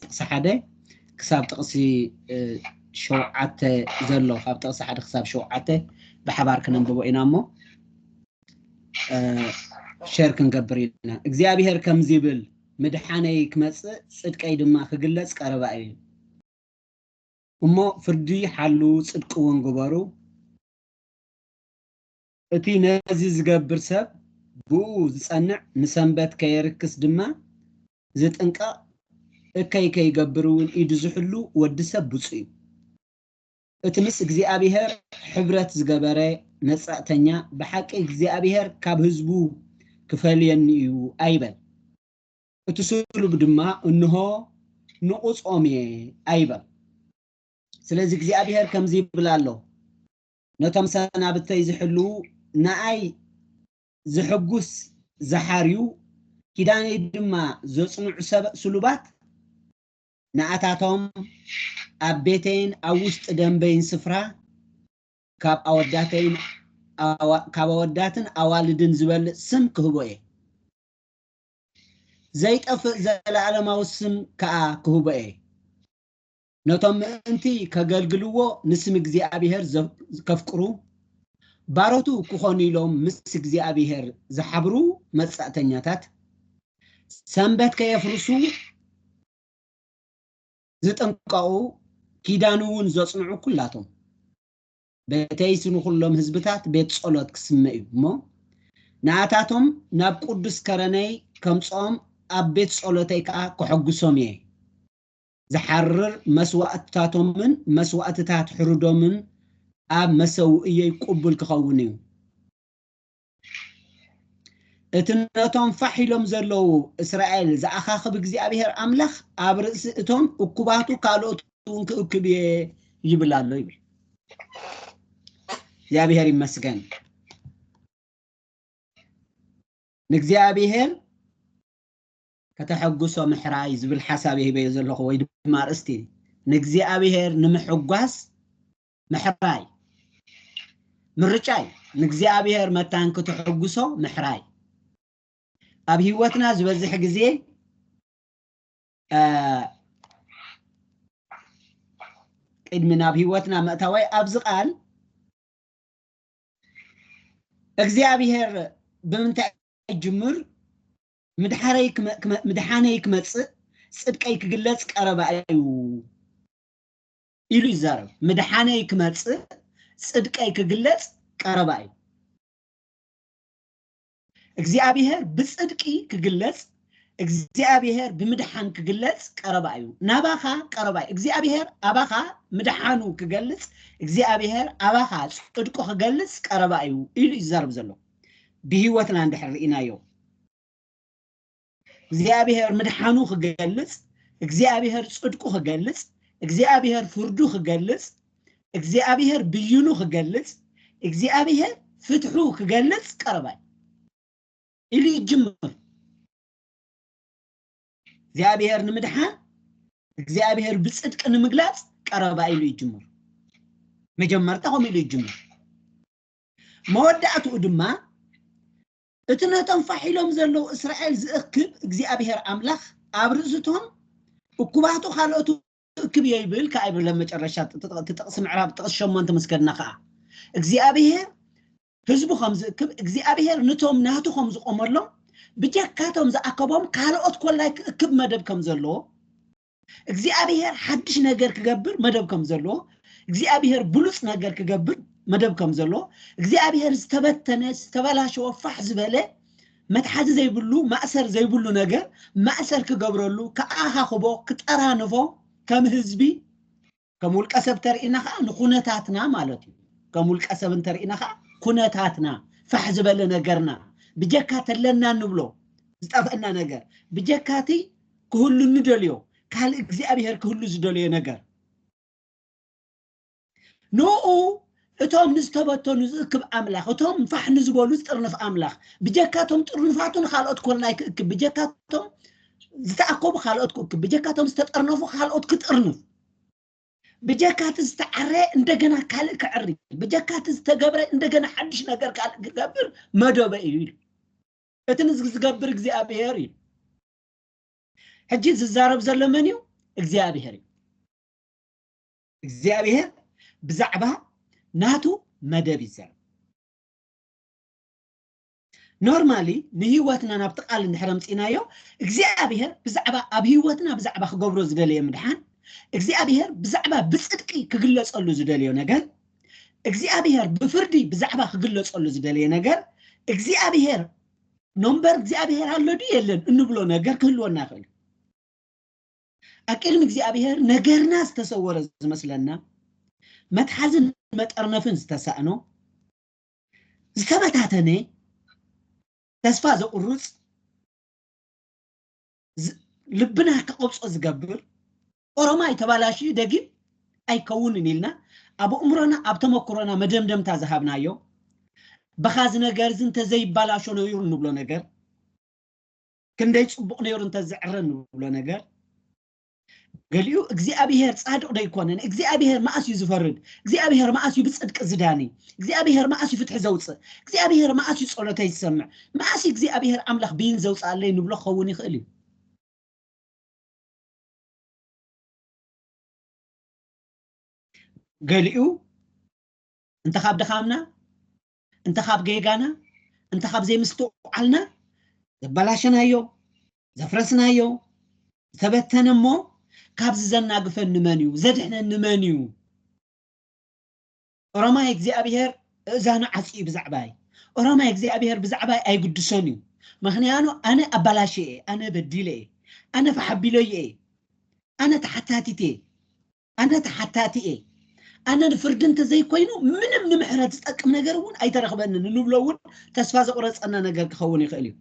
ጥቕሲ ሓደ ክሳብ ጥቕሲ ሸውዓተ ዘሎ ካብ ጥቕሲ ሓደ ክሳብ ሸውዓተ ብሓባር ክነንብቦ ኢና እሞ ሸር ክንገብር ኢና እግዚኣብሄር ከምዚ ይብል ምድሓነይ ክመፅእ ፅድቀይ ድማ ክግለፅ ቀረባ እዩ እሞ ፍርዲ ሓሉ ፅድቂ እውን ግበሩ እቲ ነዚ ዚገብር ሰብ ብእኡ ዚጸንዕ፣ ንሰንበት ከየርክስ ድማ ዚጥንቀቕ፣ እከይ ከይገብር እውን ኢዱ ዚሕሉ ወዲ ሰብ ብጹእ እዩ። እቲ ምስ እግዚኣብሄር ሕብረት ዝገበረ መጸእተኛ፣ ብሓቂ እግዚኣብሄር ካብ ህዝቡ ኪፈልየኒ እዩ ኣይበል። እቲ ስሉብ ድማ፣ እንሆ፣ ንቑጾም እየ ኣይበል። ስለዚ እግዚኣብሄር ከምዚ ይብል ኣሎ፣ ነቶም ሰናብተይ ዝሕልዉ ንኣይ ዘሐጉስ ዝሓርዩ ኪዳነይ ድማ ዘጽንዑ ሰብ ስሉባት ንኣታቶም ኣብ ቤተይን ኣብ ውሽጢ ደምበይን ስፍራ ካብ ኣወዳተይን ካብ ኣወዳትን ኣዋልድን ዝበልጽ ስም ክህቦ እየ ዘይጠፍእ ዘለኣለማዊ ስም ከኣ ክህቦ እየ ነቶም ምእንቲ ከገልግልዎ ንስም እግዚኣብሔር ከፍቅሩ ባሮቱ ክኾኑ ኢሎም ምስ እግዚኣብሔር ዝሓብሩ መጻእተኛታት ሰንበት ከየፍርሱ ዝጥንቀቑ ኪዳን እውን ዘጽንዑ ኩላቶም በተይስ ንኹሎም ህዝብታት ቤት ጸሎት ክስመ እዩ እሞ ንኣታቶም ናብ ቅዱስ ከረነይ ከምጽኦም ኣብ ቤት ጸሎተይ ከዓ ከሐጉሶም እየ ዝሓርር መስዋእትታቶምን መስዋእትታት ሕሩዶምን ኣብ መሰውእየይ ቁቡል ክኸውን እዩ። እቲ ነቶም ፋሕ ኢሎም ዘለዉ እስራኤል ዝኣኻኽብ እግዚኣብሔር ኣምላኽ ኣብ ርእሲ እቶም እኩባቱ ካልኦት እውን ክእክብ እየ ይብል ኣሎ ይብል። እግዚኣብሔር ይመስገን። ንእግዚኣብሔር ከተሐጉሶ ምሕራይ ዝብል ሓሳብ እየ ሂበዮ ዘለኹ ወይ ድማ ኣርእስቲ ንእግዚኣብሔር ንምሕጓስ ምሕራይ ምርጫ እዩ ንእግዚኣብሔር መታን ክትሕጉሶ ምሕራይ ኣብ ህይወትና ዝበዝሕ ግዜ ቅድሚ ናብ ህይወትና ምእታወይ ኣብዚ ቃል እግዚኣብሔር ብምንታይ ጅምር ምድሓረይ ክመ ምድሓነይ ክመጽእ ጽድቀይ ክግለጽ ቀረባ እዩ ኢሉ ይዛረብ። ምድሓነይ ክመጽእ ጽድቀይ ክግለጽ ቀረባ እዩ። እግዚኣብሔር ብጽድቂ ክግለጽ እግዚኣብሔር ብምድሓን ክግለጽ ቀረባ እዩ። ናባኻ ቀረባ እዩ። እግዚኣብሔር ኣባኻ ምድሓኑ ክገልጽ እግዚኣብሔር ኣባኻ ጽድቁ ክገልጽ ቀረባ እዩ ኢሉ ይዛረብ ዘሎ። ብህይወትና እንድሕር ርኢናዮ እግዚኣብሔር ምድሓኑ ክገልጽ እግዚኣብሔር ጽድቁ ክገልጽ እግዚኣብሔር ፍርዱ ክገልጽ እግዚኣብሔር ብይኑ ክገልጽ እግዚኣብሔር ፍትሑ ክገልጽ ቀረባይ ኢሉ ይጅምር እግዚኣብሔር ንምድሓን እግዚኣብሔር ብጽድቂ ንምግላጽ ቀረባ ኢሉ ይጅምር መጀመርታ ከምኡ ኢሉ ይጅምር መወዳእትኡ ድማ እቲ ነቶም ፋሕ ኢሎም ዘለዉ እስራኤል ዝእክብ እግዚኣብሄር ኣምላኽ ኣብ ርእሲቶም እኩባቱ ካልኦት እክብ እዮ ይብል ከኣ ይብል ኣብ መጨረሻ እቲ ጥቕሲ ምዕራብ ጥቕሲ ሸሞንተ ምስ ከድና ከኣ እግዚኣብሄር ህዝቡ ከም ዝእክብ እግዚኣብሄር ንቶም ናቱ ከም ዝቖመሎም ብጀካቶም ዝኣከቦም ካልኦት ኮላይ ክእክብ መደብ ከም ዘለዎ እግዚኣብሄር ሓድሽ ነገር ክገብር መደብ ከም ዘለዎ እግዚኣብሄር ብሉፅ ነገር ክገብር መደብ ከም ዘለዎ እግዚኣብሄር ዝተበተነ ዝተበላሸወ ፋሕ ዝበለ መትሓዚ ዘይብሉ ማእሰር ዘይብሉ ነገር ማእሰር ክገብረሉ ክኣኻኽቦ ክጠራንፎ ከም ህዝቢ ከም ውልቀ ሰብ ተርእና ከዓ ንኩነታትና ማለት እዩ ከም ውልቀ ሰብ እንተርእና ከዓ ኩነታትና ፋሕ ዝበለ ነገርና ብጀካ ተለና ንብሎ ዝጠፍአና ነገር ብጀካ እቲ ክህሉ ንደልዮ ካልእ እግዚኣብሔር ክህሉ ዝደልዮ ነገር ንኡ እቶም ንዝተበተኑ ዝእክብ ኣምላኽ፣ እቶም ፋሕ ንዝበሉ ዝጥርንፍ ኣምላኽ፣ ብጀካ እቶም ጥርኑፋቱ ንኻልኦት ኮሎናይ ክእክብ፣ ብጀካ እቶም ዝተኣከቡ ካልኦት ክእክብ፣ ብጀካ እቶም ዝተጠርነፉ ካልኦት ክጥርንፍ፣ ብጀካ እቲ ዝተዓረየ እንደገና ካልእ ከዕሪ፣ ብጀካ እቲ ዝተገብረ እንደገና ሓድሽ ነገር ካልእ ክገብር መደበ እዩ ኢሉ። እቲ ንዚ ዝገብር እግዚኣብሄር እዩ። ሕጂ ዝዛረብ ዘሎ መን እዩ? እግዚኣብሄር እዩ። እግዚኣብሔር ብዛዕባ ናቱ መደብ ይዛረብ ኖርማሊ ንህይወትና ናብቲ ቃል እንድሕር ኣምፂናዮ እግዚኣብሔር ብዛዕባ ኣብ ህይወትና ብዛዕባ ክገብሮ ዝደለየ ምድሓን እግዚኣብሔር ብዛዕባ ብፅድቂ ክግለፀሉ ዝደለዮ ነገር እግዚኣብሔር ብፍርዲ ብዛዕባ ክግለፀሉ ዝደለየ ነገር እግዚኣብሔር ኖምበር እግዚኣብሔር ኣሎ ድዩ የለን እንብሎ ነገር ክህልወና ይኽእል እዩ። ኣብ ቅድሚ እግዚኣብሔር ነገርና ዝተሰወረ ዝመስለና መትሓዝን መጠርነፍን ዝተሳእኖ ዝተበታተነ ተስፋ ዘቑርፅ ልብና ከቐብፆ ዝገብር ኦሮማይ ተባላሽዩ ደጊም ኣይከውንን ኢልና ኣብ እምሮና ኣብ ተመክሮና መደምደምታ ዝሃብናዮ በኻዚ ነገር እዚ እንተዘይባላሾ ነይሩ እንብሎ ነገር ክንደይ ጽቡቕ ነይሩ እንተዝዕረ ንብሎ ነገር ገሊኡ እግዚኣብሄር ጻድቕ ዶ ኣይኮነን እግዚኣብሄር መኣስ እዩ ዝፈርድ እግዚኣብሄር መኣስ እዩ ብጽድቂ ዝዳኒ እግዚኣብሄር መኣስ እዩ ፍትሒ ዘውፅእ እግዚኣብሄር መኣስ እዩ ጸሎተይ ዝሰምዕ መኣስ እዩ እግዚኣብሄር ኣምላኽ ብይን ዘውፅኣለይ ንብሎ ክኸውን ይኽእል እዩ ገሊኡ እንተ ካብ ድኻምና እንተ ካብ ጌጋና እንተ ካብ ዘይምስትውዓልና ዘበላሸናዮ ዘፍረስናዮ ዝተበተነ እሞ ካብዚ ዘናግፈኒ መን እዩ ዘድሕነኒ መን እዩ ኦሮማይ እግዚኣብሄር እእዛኑ ዓፂ እዩ ብዛዕባይ ኦሮማይ እግዚኣብሄር ብዛዕባይ ኣይግድሶን እዩ ምክንያኑ ኣነ ኣበላሸ እየ ኣነ በዲለ እየ ኣነ ፈሓቢሎየ እየ ኣነ ተሓታቲት እየ ኣነ ተሓታቲ እየ ኣነ ንፍርዲ እንተዘይኮይኑ ምንም ንምሕረት ዝጠቅም ነገር እውን ኣይተረኽበንን እንብሎ እውን ተስፋ ዘቑረፀና ነገር ክኸውን ይኽእል እዩ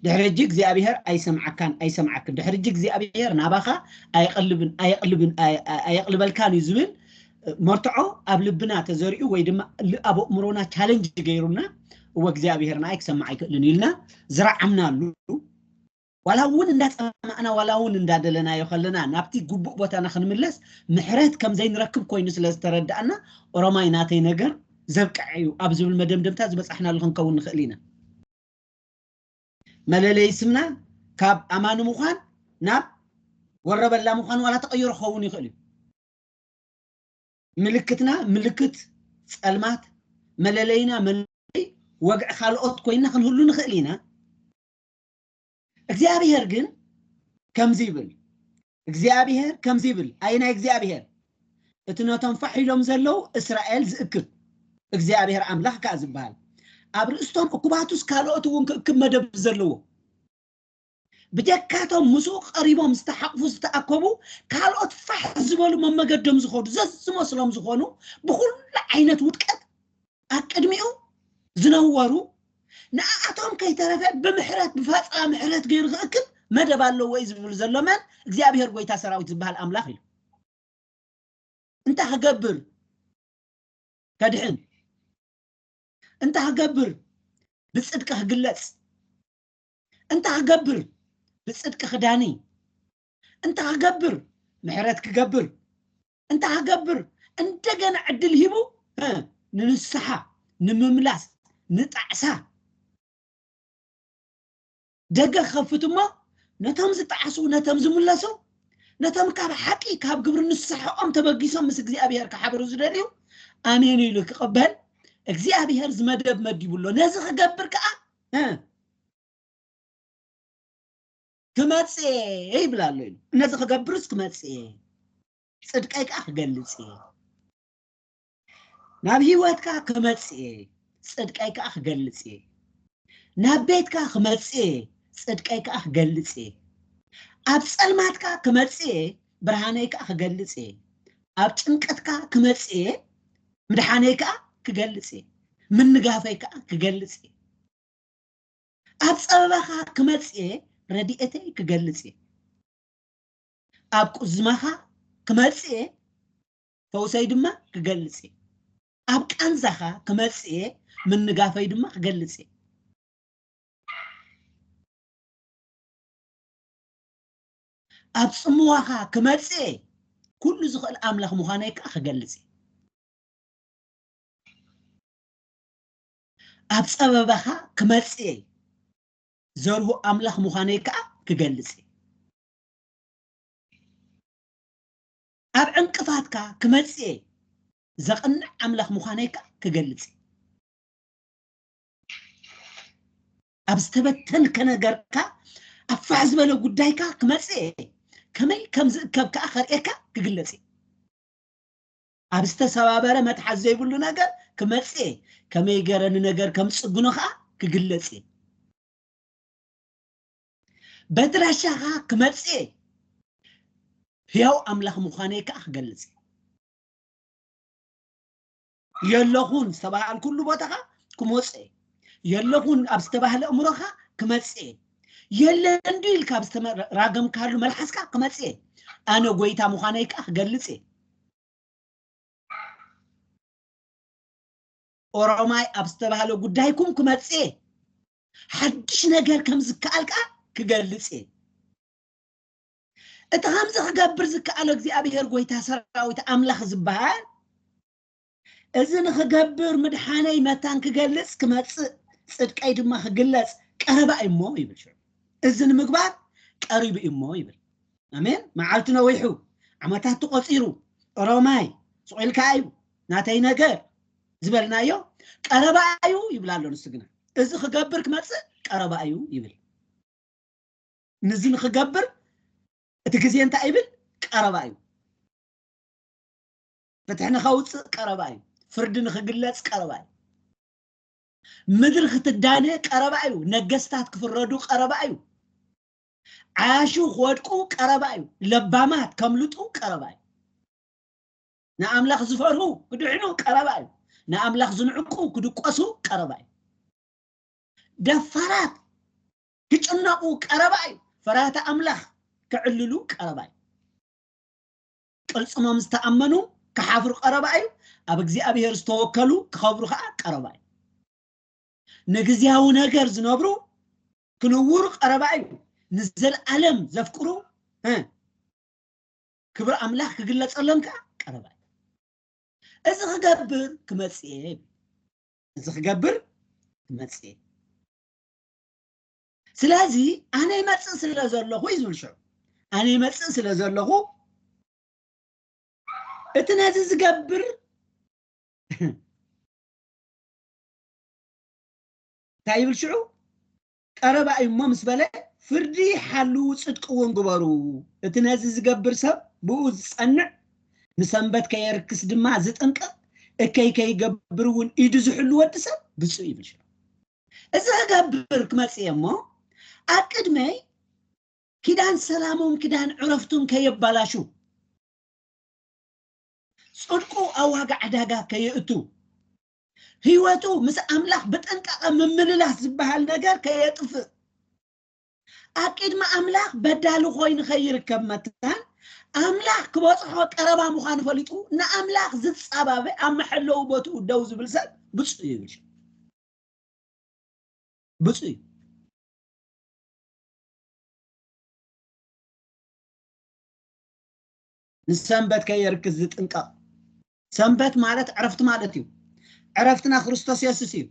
ድሕሪ ሕጂ እግዚኣብሄር ኣይሰምዓካን ኣይሰምዓክን ድሕሪ ሕጂ እግዚኣብሄር ናባኻ ኣየቕልብን ኣየቕልብን ኣየቕልበልካን እዩ ዝብል መርትዖ ኣብ ልብና ተዘሪኡ ወይ ድማ ኣብ ኣእምሮና ቻለንጅ ገይሩና እወ እግዚኣብሄር ንኣይ ክሰምዕ ኣይክእልን ኢልና ዝረዓምናሉ ዋላ እውን እንዳጸማእና ዋላ እውን እንዳደለናዮ ከለና ናብቲ ግቡእ ቦታና ክንምለስ ምሕረት ከም ዘይንረክብ ኮይኑ ስለ ዝተረዳእና ኦሮማይ ናተይ ነገር ዘብቅዐ እዩ ኣብ ዝብል መደምደምታ ዝበጻሕናሉ ክንከውን ንኽእል ኢና። መለለይ ስምና ካብ ኣማኒ ምዃን ናብ ወረበላ ምዃን ዋላ ተቐይሮ ክኸውን ይኽእል እዩ። ምልክትና ምልክት ጸልማት፣ መለለይና መለለይ ወግዒ ካልኦት ኮይና ክንህሉ ንኽእል ኢና። እግዚኣብሔር ግን ከምዚ ይብል እግዚኣብሔር ከምዚ ይብል ኣይ ናይ እግዚኣብሔር እቲ ነቶም ፋሕ ኢሎም ዘለዉ እስራኤል ዝእክብ እግዚኣብሔር ኣምላኽ ከዓ ዝበሃል ኣብ ርእስቶም እኩባቱስ ካልኦት እውን ክእክብ መደብ ዘለዎ ብጀካቶም ምስኡ ቀሪቦም ዝተሓቕፉ ዝተኣከቡ ካልኦት ፋሕ ዝበሉ መመገዶም ዝኾኑ ዘዝመስሎም ዝኾኑ ብኩሉ ዓይነት ውድቀት ኣብ ቅድሚኡ ዝነበሩ ንኣኣቶም ከይተረፈ ብምሕረት ብፋፃ ምሕረት ገይሩ ክእክብ መደብ ኣለዎ እዩ ዝብል ዘሎ መን እግዚኣብሔር ጎይታ ሰራዊት ዝበሃል ኣምላኽ እዩ እንታይ ክገብር ከድሕን እንታይ ክገብር ብፅድቂ ክግለፅ እንታይ ክገብር ብፅድቂ ክዳኒ እንታይ ክገብር ምሕረት ክገብር እንታይ ክገብር እንደገና ዕድል ሂቡ ንንስሓ ንምምላስ ንጣዕሳ ደገ ክኸፍት እሞ ነቶም ዝጣዕሱ ነቶም ዝምለሱ ነቶም ካብ ሓቂ ካብ ግብሪ ንስሓኦም ተበጊሶም ምስ እግዚኣብሄር ክሓብሩ ዝደልዩ ኣሜን ኢሉ ክቕበል እግዚኣብሄር ዝመደብ መዲቡ ኣሎ ነዚ ክገብር ከዓ ክመጽእ እየ ይብል ኣሎ ኢሉ ነዚ ክገብርስ ክመጽእ እየ ጽድቀይ ከዓ ክገልጽ እየ ናብ ህይወትካ ክመጽእ እየ ጽድቀይ ከዓ ክገልጽ እየ ናብ ቤትካ ክመጽእ እየ ጽድቀይ ከዓ ክገልጽ እየ ኣብ ጸልማትካ ክመጽእ እየ ብርሃነይ ከዓ ክገልጽ እየ ኣብ ጭንቀትካ ክመጽእ እየ ምድሓነይ ከዓ ክገልጽ እየ ምንጋፈይ ከዓ ክገልጽ እየ ኣብ ጸበባኻ ክመጽእ እየ ረድኤተይ ክገልጽ እየ ኣብ ቁዝማኻ ክመጽእ እየ ፈውሰይ ድማ ክገልጽ እየ ኣብ ቃንዛኻ ክመጽእ እየ ምንጋፈይ ድማ ክገልጽ እየ ኣብ ጽምዋኻ ክመጽእ እየ ኩሉ ዝኽእል ኣምላኽ ምዃነይ ከዓ ክገልጽ እየ ኣብ ጸበባኻ ክመጽእ እየ፣ ዘርሁ ኣምላኽ ምዃነይ ከኣ ክገልጽ እየ። ኣብ ዕንቅፋትካ ክመጽእ እየ፣ ዘቕንዕ ኣምላኽ ምዃነይ ከኣ ክገልጽ እየ። ኣብ ዝተበተንከ ነገርካ ኣብ ፋሕ ዝበለ ጉዳይካ ክመጽእ እየ፣ ከመይ ከም ዝእከብ ከኣ ከርእየካ ክግለጽ እዩ። ኣብ ዝተሰባበረ መትሓዝ ዘይብሉ ነገር ክመጽእ እየ ከመይ ገረ ንነገር ከም ጽግኖ ከዓ ክግለጽ እየ በድራሻ ከዓ ክመጽእ እየ ህያው ኣምላኽ ምዃነይ ከዓ ክገልጽ እየ የለኹን ዝተባሃልኩሉ ቦታ ከዓ ክመጽእ እየ የለኹን ኣብ ዝተባህለ እምሮ ከዓ ክመጽእ እየ የለ እንዲ ኢልካ ኣብ ዝተራገምካሉ መልሓስካ ክመጽእ እየ ኣነ ጎይታ ምዃነይ ከዓ ክገልጽ እየ ኦሮማይ ኣብ ዝተባህለ ጉዳይኩም ክመጽእ እየ ሓድሽ ነገር ከም ዝከኣል ከዓ ክገልጽ እየ እቲ ከምዚ ክገብር ዝከኣሎ እግዚኣብሄር ጎይታ ሰራዊት ኣምላኽ ዝበሃል እዚ ንክገብር ምድሓነይ መታን ክገልጽ ክመጽእ ጽድቀይ ድማ ክግለጽ ቀረባ እዩ እሞ ይብል ሽዑ እዚ ንምግባር ቀሪቡ እዩ እሞ ይብል ኣሜን መዓልቲ ነዊሑ ዓመታት ተቆፂሩ ኦሮማይ ስቑኢልካ እዩ ናተይ ነገር ዝበልናዮ ቀረባ እዩ ይብል ኣሎ ንሱ ግና እዚ ክገብር ክመፅእ ቀረባ እዩ ይብል ንዚ ንክገብር እቲ ግዜ እንታይ ይብል ቀረባ እዩ ፍትሒ ንኸውፅእ ቀረባ እዩ ፍርዲ ንክግለፅ ቀረባ እዩ ምድሪ ክትዳነ ቀረባ እዩ ነገስታት ክፍረዱ ቀረባ እዩ ዓያሹ ክወድቁ ቀረባ እዩ ለባማት ከምልጡ ቀረባ እዩ ንኣምላኽ ዝፈርሁ ክድሕኑ ቀረባ እዩ ንኣምላኽ ዝንዕቁ ክድቆሱ ቀረባ እዩ ደፋራት ክጭነቑ ቀረባ እዩ ፈራህቲ ኣምላኽ ክዕልሉ ቀረባ እዩ ቅልጽሞም ዝተኣመኑ ክሓፍሩ ቀረባ እዩ፣ ኣብ እግዚኣብሔር ዝተወከሉ ክኸብሩ ከኣ ቀረባ እዩ። ንግዝያዊ ነገር ዝነብሩ ክንውሩ ቀረባ እዩ፣ ንዘልኣለም ዘፍቅሩ እ ክብሪ ኣምላኽ ክግለጸሎም ከኣ ቀረባ እዩ። እዚ ክገብር ክመጽእ እየ ይብል። እዚ ክገብር ክመጽእ እየ። ስለዚ ኣነ ይመፅእ ስለ ዘለኹ እዩ ዝብል ሽዑ ኣነ ይመፅእ ስለ ዘለኹ እቲ ነዚ ዝገብር እንታይ ይብል ሽዑ ቀረባ እዩ እሞ ምስ በለ ፍርዲ ሓልው ፅድቂ እውን ግበሩ እቲ ነዚ ዝገብር ሰብ ብኡ ዝፀንዕ ንሰንበት ከየርክስ ድማ ዝጥንቀቕ እከይ ከይገብር እውን ኢዱ ዝሕሉ ወዲ ሰብ ብፁእ ይብል ሽዑ እዚ ክገብር ክመጽእ እየ እሞ ኣብ ቅድመይ ኪዳን ሰላሞም ኪዳን ዕረፍቱን ከየባላሹ ጽድቁ ኣብ ዋጋ ዕዳጋ ከየእቱ ህይወቱ ምስ ኣምላኽ ብጥንቃቐ ምምልላስ ዝበሃል ነገር ከየጥፍእ ኣብ ቅድሚ ኣምላኽ በዳሊ ኮይኑ ከይርከብ መታን ኣምላኽ ክበፅሖ ቀረባ ምዃኑ ፈሊጡ ንኣምላኽ ዝፃባበ ኣብ መሐለዊ ቦትኡ ደው ዝብል ሰብ ብፁዕ ይብል ብፁዕ እዩ ንሰንበት ከየርክስ ዝጥንቀቕ ሰንበት ማለት ዕረፍቲ ማለት እዩ ዕረፍትና ክርስቶስ የሱስ እዩ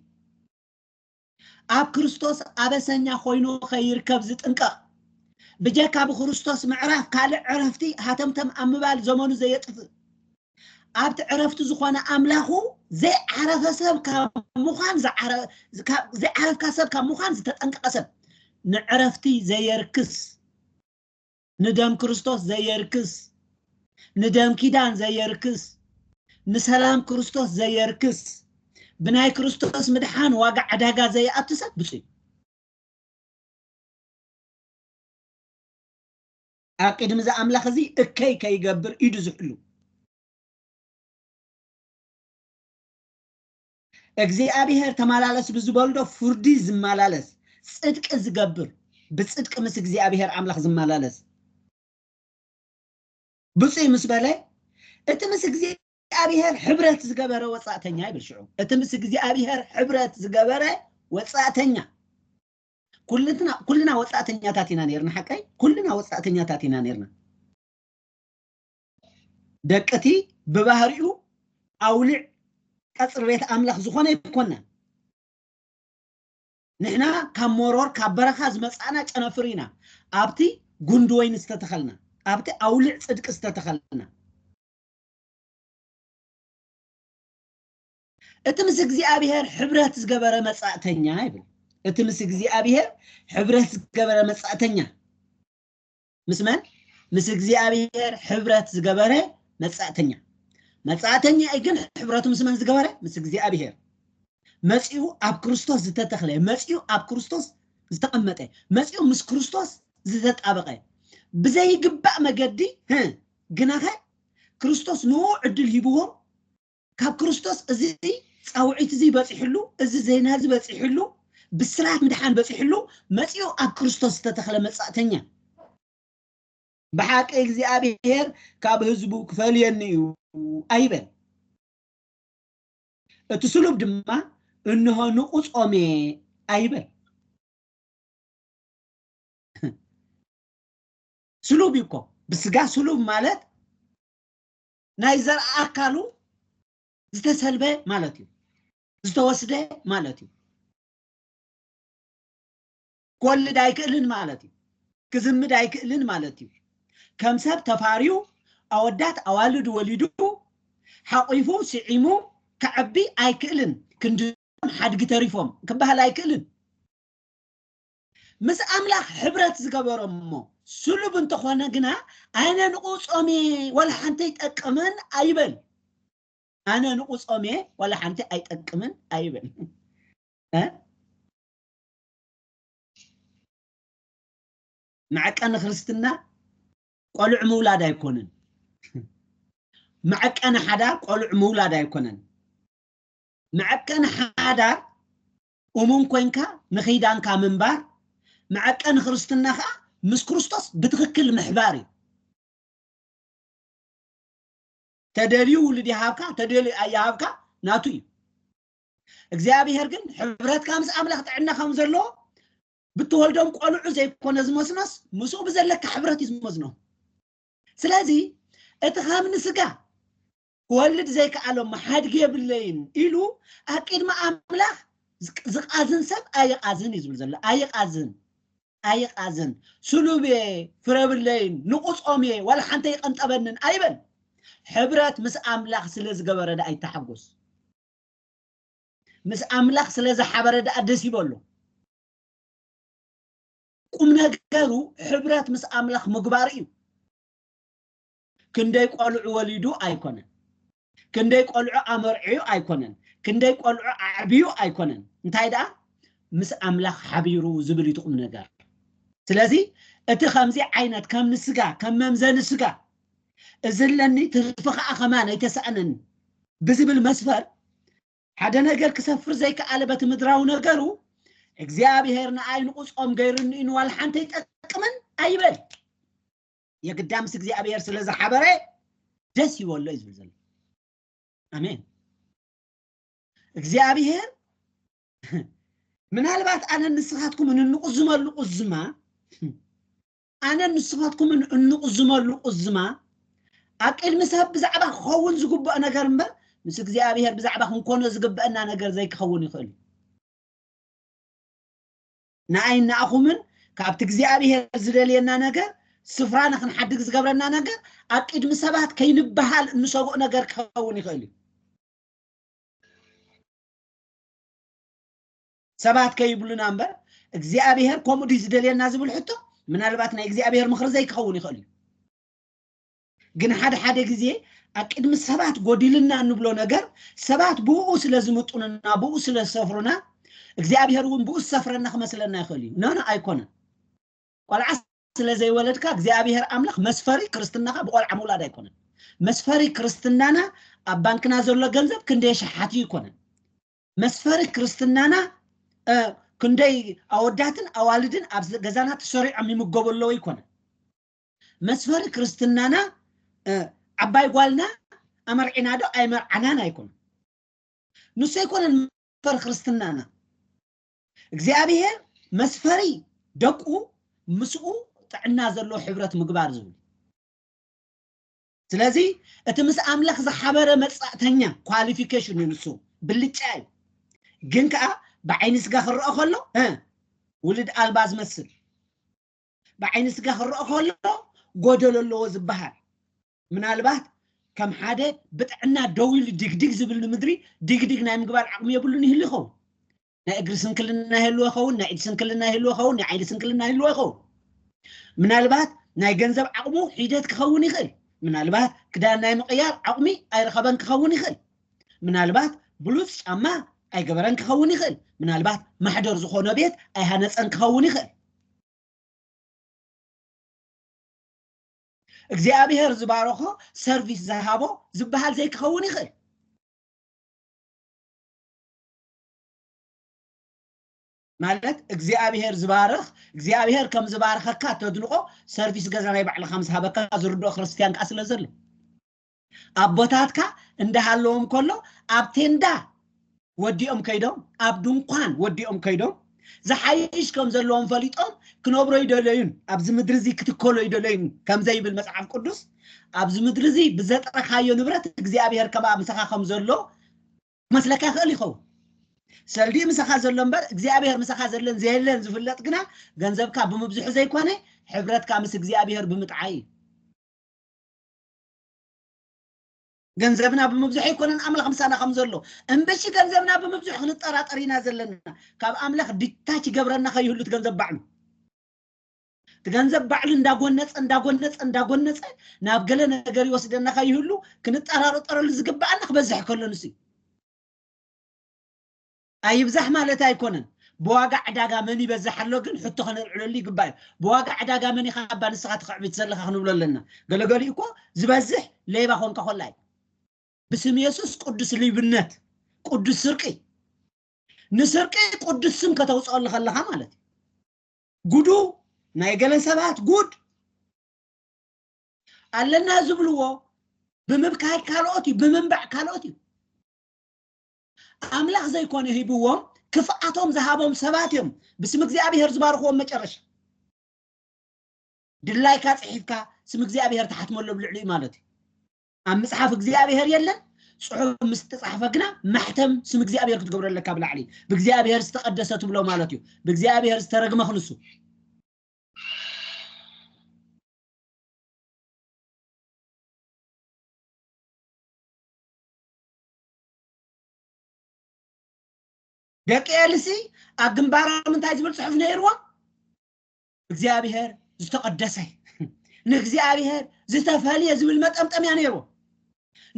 ኣብ ክርስቶስ ኣበሰኛ ኮይኑ ከይርከብ ዝጥንቀቕ ብጀካ ብክርስቶስ ምዕራፍ ካልእ ዕረፍቲ ሃተምተም ኣብ ምባል ዘመኑ ዘየጥፍእ ኣብቲ ዕረፍቱ ዝኾነ ኣምላኹ ዘይዓረፈ ሰብ ካብ ምዃን ዝዓረ- ካብ- ዘይዓረፍካ ሰብ ካብ ምዃን ዝተጠንቀቐ ሰብ ንዕረፍቲ ዘየርክስ ንደም ክርስቶስ ዘየርክስ ንደም ኪዳን ዘየርክስ ንሰላም ክርስቶስ ዘየርክስ ብናይ ክርስቶስ ምድሓን ዋጋ ዕዳጋ ዘይኣቱ ሰብ ብፁዕ እዩ። ኣብ ቅድሚ እዚ ኣምላኽ እዚ እከይ ከይገብር ኢዱ ዝሕሉ እግዚኣብሔር ተመላለስ ብዝበልዶ ፍርዲ ዝመላለስ ጽድቂ ዝገብር ብጽድቂ ምስ እግዚኣብሔር ኣምላኽ ዝመላለስ ብፁይ ምስ በለ እቲ ምስ እግዚኣብሔር ሕብረት ዝገበረ ወጻእተኛ ይብል ሽዑ እቲ ምስ እግዚኣብሔር ሕብረት ዝገበረ ወጻእተኛ ኩልና ኩልና ወጻእተኛታት ኢና ነርና ሓቀይ ኩልና ወጻእተኛታት ኢና ነርና ደቅቲ ብባህሪኡ ኣውልዕ ቀጽሪ ቤት ኣምላኽ ዝኾነ ይኮና ንሕና ካብ መሮር ካብ በረኻ ዝመጻእና ጨነፍር ኢና ኣብቲ ጉንዲ ወይኒ ዝተተኸልና ኣብቲ ኣውልዕ ጽድቂ ዝተተኸልና እቲ ምስ እግዚኣብሔር ሕብረት ዝገበረ መጻእተኛ ይብል እቲ ምስ እግዚኣብሔር ሕብረት ዝገበረ መጻእተኛ ምስ መን ምስ እግዚኣብሔር ሕብረት ዝገበረ መጻእተኛ መጻእተኛ እዩ ግን ሕብረቱ ምስ መን ዝገበረ ምስ እግዚኣብሔር መጺኡ ኣብ ክርስቶስ ዝተተኽለ መጺኡ ኣብ ክርስቶስ ዝተቐመጠ መጺኡ ምስ ክርስቶስ ዝተጣበቐ ብዘይግባእ መገዲ ህ፣ ግናኸ ክርስቶስ ንኡ ዕድል ሂብዎም ካብ ክርስቶስ እዚ ጻውዒት እዚ በጺሕሉ፣ እዚ ዜና እዚ በጺሕሉ፣ ብስራት ምድሓን በጺሕሉ፣ መጺኡ ኣብ ክርስቶስ ዝተተኽለ መጻእተኛ። ብሓቂ እግዚኣብሔር ካብ ህዝቡ ክፈልየኒ እዩ ኣይበል። እቲ ስሉብ ድማ እንሆ ንቑ ጾሜ ኣይበል። ስሉብ እዩ እኮ ብስጋ ስሉብ ማለት ናይ ዘርኢ ኣካሉ ዝተሰልበ ማለት እዩ ዝተወስደ ማለት እዩ ክወልድ ኣይክእልን ማለት እዩ ክዝምድ ኣይክእልን ማለት እዩ ከም ሰብ ተፋርዩ ኣወዳት ኣዋልድ ወሊዱ ሓቂፉ ስዒሙ ከዕቢ ኣይክእልን ክንድም ሓድጊ ተሪፎም ክበሃል ኣይክእልን ምስ ኣምላኽ ሕብረት ዝገበሮ እሞ ስሉብ እንተኾነ ግና ኣነ ንቑ ጾሜ ዋላ ሓንቲ ኣይጠቅምን ኣይበል ኣነ ንቑ ጾሜ ዋላ ሓንቲ ኣይጠቅምን ኣይበል መዐቀኒ ክርስትና ቆልዑ ምውላድ ኣይኮንን መዐቀኒ ሓዳር ቆልዑ ምውላድ ኣይኮነን መዐቀኒ ሓዳር እሙን ኮይንካ ንኺዳንካ ምንባር፣ መዐቀኒ ክርስትና ከኣ ምስ ክርስቶስ ብትኽክል ምሕባር እዩ። ተደልዩ ውሉድ ይሃብካ፣ ተደልዩ ኣይሃብካ ናቱ እዩ። እግዚኣብሔር ግን ሕብረትካ ምስ ኣምላኽ ጥዕና ከም ዘለዎ ብትወልዶም ቆልዑ ዘይኮነ ዝመስኖስ ምስኡ ብዘለካ ሕብረት እዩ ዝመዝኖም። ስለዚ እቲ ከም ንስጋ ክወልድ ዘይከኣሎ መሓድግ የብለይን ኢሉ ኣብ ቅድሚ ኣምላኽ ዝቃዝን ሰብ ኣይቓዝን እዩ ዝብል ዘሎ ኣይቓዝን ኣይቃዝን ስሉብ እየ ፍረብለይን ንቑጾም እየ ዋላ ሓንተ ይቐንጠበንን ኣይበል ሕብረት ምስ ኣምላኽ ስለ ዝገበረ ደኣ ይተሓጎስ ምስ ኣምላኽ ስለ ዝሓበረ ደኣ ደስ ይበሎ ቁም ነገሩ ሕብረት ምስ ኣምላኽ ምግባር እዩ ክንደይ ቆልዑ ወሊዱ ኣይኮነን ክንደይ ቆልዑ ኣመርዕዩ ኣይኮነን ክንደይ ቆልዑ ኣዕብዩ ኣይኮነን እንታይ ደኣ ምስ ኣምላኽ ሓቢሩ ዝብል እዩ ትቁም ነገር ስለዚ እቲ ከምዚ ዓይነት ከም ንስጋ ከም መምዘኒ ስጋ እዚ ኣለኒ ትርፊ ከዓ ከማን ኣይተሰኣነኒ ብዝብል መስፈር ሓደ ነገር ክሰፍር ዘይከኣለ በቲ ምድራዊ ነገሩ እግዚኣብሄር ንኣይ ንቁፆም ገይሩኒ ንዋላ ሓንቲ ኣይጠቅምን ኣይበል የግዳ ምስ እግዚኣብሔር ስለ ዝሓበረ ደስ ይበሎ እዩ ዝብል ዘሎ ኣሜን እግዚኣብሔር ምናልባት ኣነ ንስኻትኩምን እንቁዝመሉ ቁዝማ ኣነ ንስኻትኩምን እንቁዝመሉ ቁዝማ ኣብ ቅድሚ ሰብ ብዛዕባ ክኸውን ዝግብኦ ነገር እምበር ምስ እግዚኣብሔር ብዛዕባ ክንኮኖ ዝግብአና ነገር ዘይክኸውን ይኽእል እዩ ንኣይን ንኣኹምን ካብቲ እግዚኣብሔር ዝደልየና ነገር ስፍራ ንክንሓድግ ዝገብረና ነገር ኣብ ቅድሚ ሰባት ከይንበሃል እንሰግኦ ነገር ክኸውን ይኽእል እዩ ሰባት ከይብሉና እምበር እግዚኣብሔር ከምኡ ድዩ ዝደልየና ዝብል ሕቶ ምናልባት ናይ እግዚኣብሔር ምኽሪ ዘይክኸውን ይኽእል እዩ ግን ሓደ ሓደ ግዜ ኣብ ቅድሚ ሰባት ጎዲልና እንብሎ ነገር ሰባት ብኡ ስለ ዝምጡንና ብኡ ስለ ዝሰፍሩና እግዚኣብሄር እውን ብኡ ዝሰፍረና ክመስለና ይኽእል እዩ ኖኖ ኣይኮነን ቆልዓ ስለ ዘይወለድካ እግዚኣብሄር ኣምላኽ መስፈሪ ክርስትናኻ ብቆልዓ ምውላድ ኣይኮነን መስፈሪ ክርስትናና ኣብ ባንክና ዘሎ ገንዘብ ክንደይ ሸሓት እዩ ይኮነን መስፈሪ ክርስትናና ክንደይ ኣወዳትን ኣዋልድን ኣብ ገዛና ተሰሪዖም ይምገቡ ኣለዎ ይኮነን መስፈሪ ክርስትናና እ፣ ዓባይ ጓልና ኣመርዒና ዶ ኣይመርዓናን ኣይኮነ ንሱ ኣይኮነን መስፈሪ ክርስትናና እግዚኣብሔር መስፈሪ ደቁ ምስኡ ጥዕና ዘለዎ ሕብረት ምግባር ዝብል ስለዚ እቲ ምስ ኣምላኽ ዝሓበረ መጻእተኛ ኳሊፊኬሽን እዩ ንሱ ብልጫ እዩ ግን ከዓ ብዓይኒ ስጋ ክረኦ ከሎ እ፣ ውልድ ኣልባ ዝመስል ብዓይኒ ስጋ ክረኦ ከሎ ጎደሎ ኣለዎ ዝበሃል ምናልባት ከም ሓደ ብጥዕና ደው ኢሉ ድግድግ ዝብል ንምድሪ ድግድግ ናይ ምግባር ዓቕሚ የብሉን ይህሉ ይኸውን ናይ እግሪ ስንክልና ይህልዎ ይኸውን ናይ ኢድ ስንክልና ይህልዎ ይኸውን ናይ ዓይኒ ስንክልና ይህልዎ ይኸውን ምናልባት ናይ ገንዘብ ዓቕሙ ሒደት ክኸውን ይኽእል ምናልባት ክዳን ናይ ምቕያር ዓቕሚ ኣይረኸበን ክኸውን ይኽእል ምናልባት ብሉፅ ጫማ ኣይገበረን ክኸውን ይኽእል ምናልባት ማሕደር ዝኾነ ቤት ኣይሃነፀን ክኸውን ይኽእል እግዚኣብሔር ዝባረኾ ሰርቪስ ዝሃቦ ዝበሃል ዘይክኸውን ይኽእል ማለት እግዚኣብሔር ዝባርኽ እግዚኣብሔር ከም ዝባርኸካ ተድንቆ ሰርቪስ ገዛ ናይ ባዕልኻ ምስ ሃበካ ዝርድኦ ክርስትያን ከዓ ስለ ዘሎ ኣቦታትካ እንዳሃለዎም ከሎ ኣብ ቴንዳ ወዲኦም ከይዶም ኣብ ድንኳን ወዲኦም ከይዶም ዝሓይሽ ከም ዘለዎም ፈሊጦም ክነብሮ ይደለዩን ኣብዚ ምድሪ እዚ ክትከሎ ይደለዩን ከምዘይብል መጽሓፍ ቅዱስ ኣብዚ ምድሪ እዚ ብዘጥረካዮ ንብረት እግዚኣብሔር ከማ ምሳኻ ከም ዘሎ መስለካ ይኽእል ይኸውን ሰልዲ ምሳኻ ዘሎ እምበር እግዚኣብሔር ምሳኻ ዘለን ዘየለን ዝፍለጥ ግና ገንዘብካ ብምብዝሑ ዘይኮነ ሕብረትካ ምስ እግዚኣብሔር ብምጥዓይ እዩ ገንዘብና ብምብዝሑ ኣይኮነን ኣምላኽ ምሳና ከም ዘሎ እምበሺ ገንዘብና ብምብዝሑ ክንጠራጠር ኢና ዘለና ካብ ኣምላኽ ዲታች ይገብረና ከይህሉ እቲ ገንዘብ ባዕሉ እቲ ገንዘብ ባዕሉ እንዳጎነፀ እንዳጎነፀ እንዳጎነፀ ናብ ገለ ነገር ይወስደና ከይህሉ ክንጠራረጠረሉ ዝግባኣና ክበዝሕ ከሎ ንሱ እዩ ኣይብዛሕ ማለት ኣይኮነን ብዋጋ ዕዳጋ መን ይበዝሕ ኣሎ ግን ሕቶ ከነልዕለሉ ይግባእ እዩ ብዋጋ ዕዳጋ መን ኢኻ እባ ንስኻ ተኽዕቢት ዘለኻ ክንብሎ ኣለና ገለገሊኡ እኮ ዝበዝሕ ሌባ ኮንካ ኮላ እዩ ብስም የሱስ ቅዱስ ሊብነት ቅዱስ ስርቂ ንስርቂ ቅዱስ ስም ከተውፅኦ ከለኻ ማለት እዩ ጉዱ ናይ ገለ ሰባት ጉድ ኣለና ዝብልዎ ብምብካይ ካልኦት እዩ ብምንባዕ ካልኦት እዩ ኣምላኽ ዘይኮነ ሂብዎም ክፍኣቶም ዝሃቦም ሰባት እዮም ብስም እግዚኣብሔር ዝባርኽዎም መጨረሻ ድላይካ ጽሒፍካ ስም እግዚኣብሔር ተሓትመሉ ኣብ ልዕሊኡ ማለት እዩ ኣብ ምጽሓፍ እግዚኣብሔር የለን ጽሑፍ ምስ ተጻሕፈ ግና ማሕተም ስም እግዚኣብሔር ክትገብረ ኣለካ ብላዕሊ ብእግዚኣብሔር ዝተቀደሰ ትብሎ ማለት እዩ ብእግዚኣብሔር ዝተረግመ ክንሱ ደቂ ኤልሲ ኣብ ግንባሮም እንታይ ዝብል ፅሑፍ ነይርዎም እግዚኣብሄር ዝተቐደሰ ንእግዚኣብሄር ዝተፈልየ ዝብል መጠምጠምያ ነይርዎም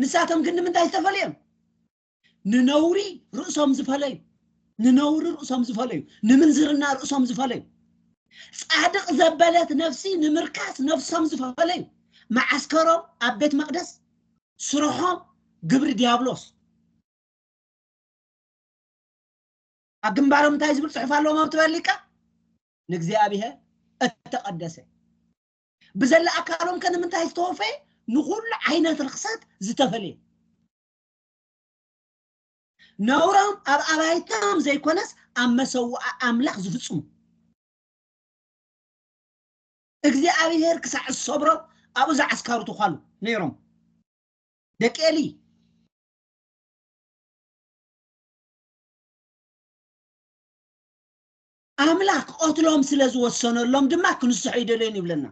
ንሳቶም ግን ንምንታይ ዝተፈልዮም ንነውሪ ርእሶም ዝፈለዩ ንነውሪ ርእሶም ዝፈለዩ ንምንዝርና ርእሶም ዝፈለዩ ጻድቅ ዘበለት ነፍሲ ንምርካስ ነፍሶም ዝፈለዩ መዓስከሮም ኣብ ቤት መቅደስ ስርሖም ግብሪ ዲያብሎስ ኣብ ግንባሮም እንታይ ዝብል ፅሑፍ ኣለዎም ኣብ ትበሊካ ንእግዚኣብሔር እተቀደሰ ብዘለ ኣካሎም ከንምንታይ ዝተወፈየ ንኩሉ ዓይነት ርክሰት ዝተፈለየ ነውሮም ኣብ ኣባይቶም ዘይኮነስ ኣብ መሰዋዓ ኣምላኽ ዝፍፅሙ እግዚኣብሄር ክሳዕ ዝሰብሮ ኣብኡ ዝዓስካሩ ተዃሉ ነይሮም ደቂ ኤሊ ኣምላክ ክቐትሎም ስለ ዝወሰነሎም ድማ ክንስሑ ይደልዮን ይብለና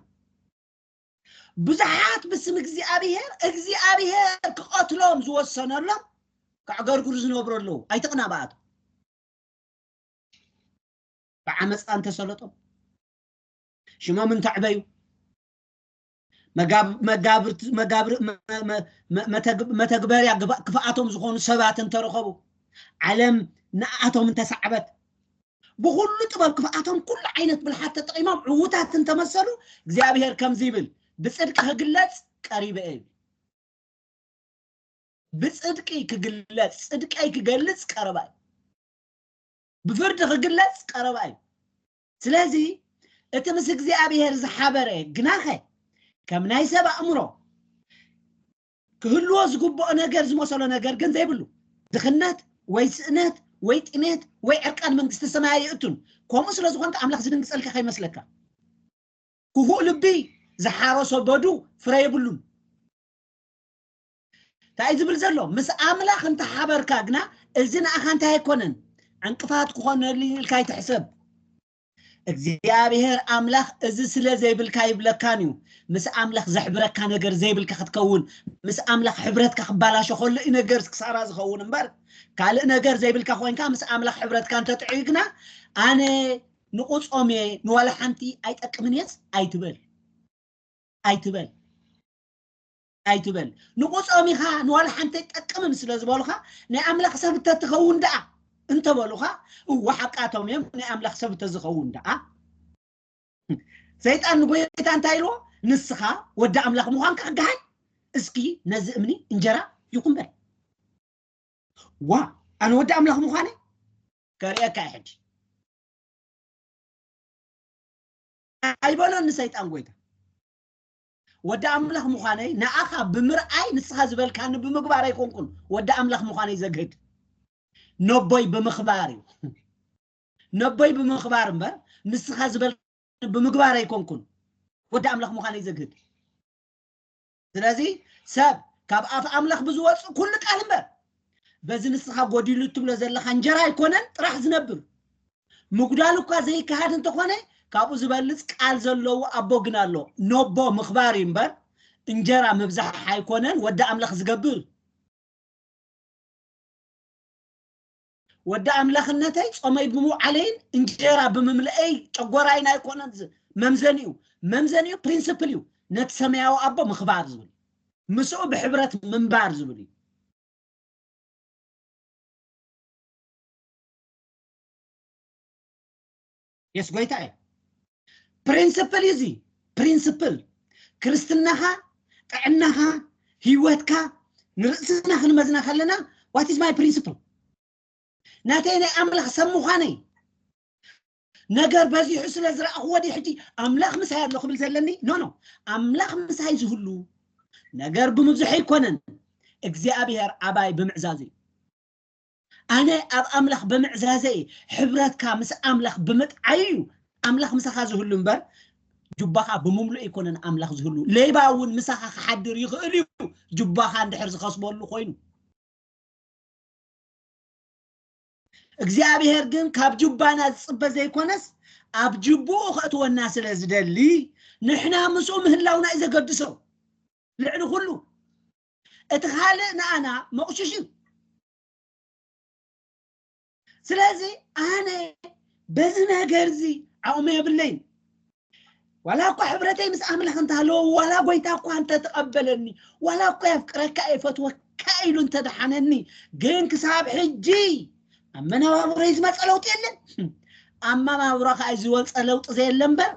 ብዙሓት ብስም እግዚኣብሄር እግዚኣብሄር ክቐትሎም ዝወሰነሎም ከዕገርግሩ ዝነብሩ ኣለዉ ኣይትቕና በኣቶ ብዓመፃ እንተሰለጦም ሽሞም እንተዕበዩ መተግበርያ ክፍኣቶም ዝኾኑ ሰባት እንተረኸቡ ዓለም ንኣቶም እንተሰዕበት ብኩሉ ጥበብ ክፍኣቶም ኩሉ ዓይነት ብልሓት ተጠቂሞም ዕውታት እንተመሰሉ እግዚኣብሄር ከምዚ ይብል ብፅድቂ ክግለፅ ቀሪበ እዩ ብፅድቂ ክግለፅ ፅድቀይ ክገልፅ ቀረባ እዩ ብፍርዲ ክግለፅ ቀረባ እዩ ስለዚ እቲ ምስ እግዚኣብሔር ዝሓበረ ግናኸ ከም ናይ ሰብ ኣእምሮ ክህልዎ ዝግብኦ ነገር ዝመሰሎ ነገር ግን ዘይብሉ ድኽነት ወይ ስእነት ወይ ጥሜት ወይ ዕርቃን መንግስቲ ሰማይ ኣይእቱን ከምኡ ስለ ዝኾንካ ኣምላኽ ዝድንግጸልካ ከይመስለካ ክፉእ ልቢ ዝሓረሶ በዱ ፍረ የብሉን እንታይ እዩ ዝብል ዘሎ ምስ ኣምላኽ እንተሓበርካ ግና እዚ ንኣኻ እንታይ ኣይኮነን ዕንቅፋት ክኾነሉ ኢልካ ኣይትሕሰብ እግዚኣብሔር ኣምላኽ እዚ ስለ ዘይብልካ ይብለካን እዩ ምስ ኣምላኽ ዘሕብረካ ነገር ዘይብልካ ክትከውን ምስ ኣምላኽ ሕብረትካ ክባላሾ ከሎ እዩ ነገር ክሳራ ዝኸውን እምበር ካልእ ነገር ዘይብልካ ኮንካ ምስ ኣምላኽ ሕብረትካ እንተጥዕዩ ግና ኣነ ንቑፆም እየ ንዋላ ሓንቲ ኣይጠቅምን እየስ ኣይትበል ኣይትበል ኣይትበል ንቁጾም ኢኻ ንዋላ ሓንቲ ኣይጠቅምን ስለ ዝበሉኻ ናይ ኣምላኽ ሰብ እተትኸውን ደኣ እንተበሉኻ እወ ሓቃቶም እዮም ናይ ኣምላኽ ሰብ እተዝኸውን ደኣ ሰይጣን ንጎይታ እንታይ ኢልዎ ንስኻ ወዲ ኣምላኽ ምዃንካ ክገሃድ እስኪ ነዚ እምኒ እንጀራ ይኹን በል ዋ ኣነ ወዲ ኣምላኽ ምዃነ ከርእየካ እየ ሕጂ ኣይበሎን ንሰይጣን ጎይታ ወዲ ኣምላኽ ምዃነይ ንኣኻ ብምርኣይ ንስኻ ዝበልካኒ ብምግባር ኣይኮንኩን ወዲ ኣምላኽ ምዃነይ ዘግህድ ነቦይ ብምኽባር እዩ ነቦይ ብምኽባር እምበር ንስኻ ዝበል ብምግባር ኣይኮንኩን ወዲ ኣምላኽ ምዃነይ ዘግህድ ስለዚ ሰብ ካብ ኣፍ ኣምላኽ ብዝወፅእ ኩሉ ቃል እምበር በዚ ንስኻ ጎዲሉ እትብሎ ዘለኻ እንጀራ ኣይኮነን ጥራሕ ዝነብር ምጉዳል እኳ ዘይከሃድ እንተኾነ ካብኡ ዝበልጽ ቃል ዘለዎ ኣቦ ግን ኣሎ ኖቦ ምኽባር እዩ እምበር እንጀራ ምብዛሕ ኣይኮነን ወዲ ኣምላኽ ዝገብር ወዲ ኣምላኽነተይ ጾመይ ብምውዓለይን እንጀራ ብምምልአይ ጨጎራይን ኣይኮነን መምዘኒኡ መምዘኒኡ ፕሪንስፕል እዩ ነቲ ሰማያዊ ኣቦ ምኽባር ዝብል ምስኡ ብሕብረት ምንባር ዝብል እዩ የስ ጎይታ እዩ ፕሪንስፕል እዩ እዚ ፕሪንስፕል ክርስትናኻ ጥዕናኻ ህይወትካ ንርእስና ክንመዝና ከለና ዋት ኢዝ ማይ ፕሪንስፕል ናተይ ናይ ኣምላኽ ሰብ ምዃነይ ነገር በዚሑ ስለ ዝረኣኽዎ ዲ ሕጂ ኣምላኽ ምሳይ ኣሎ ክብል ዘለኒ ኖ ኖ ኣምላኽ ምሳይ ዝህሉ ነገር ብምብዝሑ ኣይኮነን እግዚኣብሔር ኣባይ ብምዕዛዙ እዩ ኣነ ኣብ ኣምላኽ ብምዕዛዘ እየ ሕብረትካ ምስ ኣምላኽ ብምጥዓይ እዩ ኣምላኽ ምሳኻ ዝህሉ እምበር ጁባኻ ብምምልእ ኣይኮነን ኣምላኽ ዝህሉ ሌባ እውን ምሳኻ ክሓድር ይኽእል እዩ ጁባኻ እንድሕር ዝኸስበሉ ኮይኑ እግዚኣብሔር ግን ካብ ጁባና ዝፅበ ዘይኮነስ ኣብ ጅብኡ ከእትወና ስለ ዝደሊ ንሕና ምስኡ ምህላውና እዩ ዘገድሶ ልዕሊ ኩሉ እቲ ካልእ ንኣና መቑሽሽ እዩ ስለዚ ኣነ በዚ ነገር እዚ ዓቕሚ የብለይን ዋላ እኳ ሕብረተይ ምስ ኣምላኽ እንተሃለዎ ዋላ ጎይታ እኳ እንተተቐበለኒ ዋላ እኳ የፍቅረካ የፈትወካ ኢሉ እንተደሓነኒ ግን ክሳብ ሕጂ ኣብ መነባብሮይ ዝመፀ ለውጢ የለን ኣመባብሮ ከዓ ዝወፀ ለውጢ ዘየለ እምበር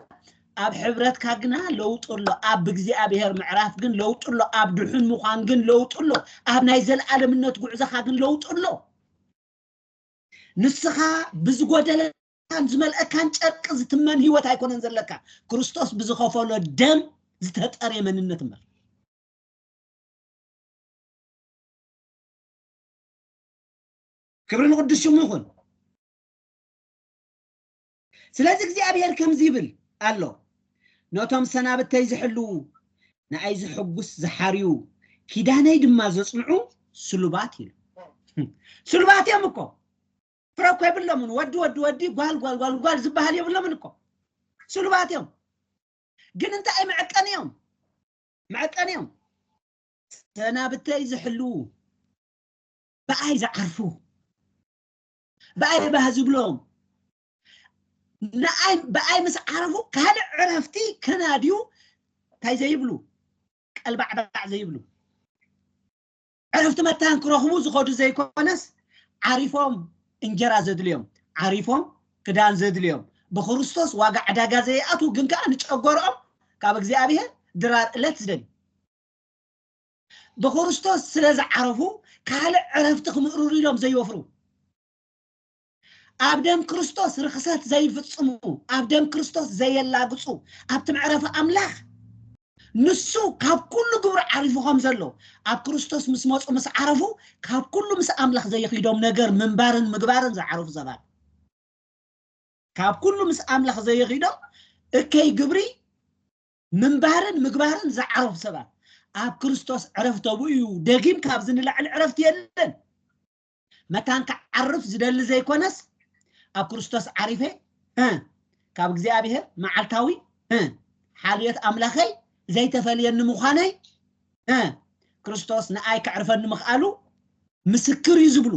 ኣብ ሕብረትካ ግና ለውጢ ኣሎ ኣብ እግዚኣብሔር ምዕራፍ ግን ለውጢ ኣሎ ኣብ ድሑን ምዃን ግን ለውጢ ኣሎ ኣብ ናይ ዘለኣለምነት ጉዕዞኻ ግን ለውጢ ኣሎ ንስኻ ብዝጎደለካን ዝመልአካን ጨርቂ ዝትመን ህይወት ኣይኮነን ዘለካ ክርስቶስ ብዝኸፈሎ ደም ዝተጠርየ መንነት እምበር ክብሪ ንቅዱስ ሽሙ ይኹን ስለዚ እግዚኣብሄር ከምዚ ይብል ኣሎ፣ ነቶም ሰናብተይ ዚሕልዉ፣ ንኣይ ዜሐጕስ ዚሓርዩ፣ ኪዳነይ ድማ ዜጽንዑ ስሉባት ኢሉ። ስሉባት እዮም እኮ፣ ፍረ እኮ የብሎምን። ወዲ ወዲ ወዲ፣ ጓል ጓል ጓል ጓል ዚበሃል የብሎምን እኮ። ስሉባት እዮም፣ ግን እንታይ መዐቀኒ እዮም፣ መዐቀኒ እዮም። ሰናብተይ ዚሕልዉ፣ ብኣይ ዚዓርፉ፣ ብኣይ ባህ ዝብሎም ንኣይ ብኣይ ምስ ዓረፉ ካልእ ዕረፍቲ ከናድዩ እንታይ ዘይብሉ ቀልባዕባዕ ዘይብሉ ዕረፍቲ መታን ክረኽቡ ዝኸዱ ዘይኮነስ ዓሪፎም እንጀራ ዘድልዮም ዓሪፎም ክዳን ዘድልዮም ብክርስቶስ ዋጋ ዕዳጋ ዘይኣትዉ ግን ከዓ ንጨጎርኦም ካብ እግዚኣብሔር ድራር ዕለት ዝደልዩ ብክርስቶስ ስለ ዝዓረፉ ካልእ ዕረፍቲ ክምእርሩ ኢሎም ዘይወፍሩ ኣብ ደም ክርስቶስ ርክሰት ዘይፍጽሙ ኣብ ደም ክርስቶስ ዘየላግጹ ኣብቲ መዕረፊ ኣምላኽ ንሱ ካብ ኩሉ ግብሪ ዓሪፉ ከም ዘሎ ኣብ ክርስቶስ ምስ መፁ ምስ ዓረፉ ካብ ኩሉ ምስ ኣምላኽ ዘይኺዶም ነገር ምንባርን ምግባርን ዝዓረፉ ሰባት ካብ ኩሉ ምስ ኣምላኽ ዘይኺዶም እከይ ግብሪ ምንባርን ምግባርን ዝዓረፉ ሰባት ኣብ ክርስቶስ ዕረፍቲ ኣብኡ እዩ ደጊም ካብዚ ንላዕሊ ዕረፍቲ የለን መታን ክዓርፍ ዝደሊ ዘይኮነስ ኣብ ክርስቶስ ዓሪፈ እ፣ ካብ እግዚኣብሔር መዓልታዊ እ፣ ሓልዮት ኣምላኸይ ዘይተፈልየኒ ምዃነይ እ፣ ክርስቶስ ንኣይ ከዕርፈኒ ምኽኣሉ ምስክር እዩ ዝብሉ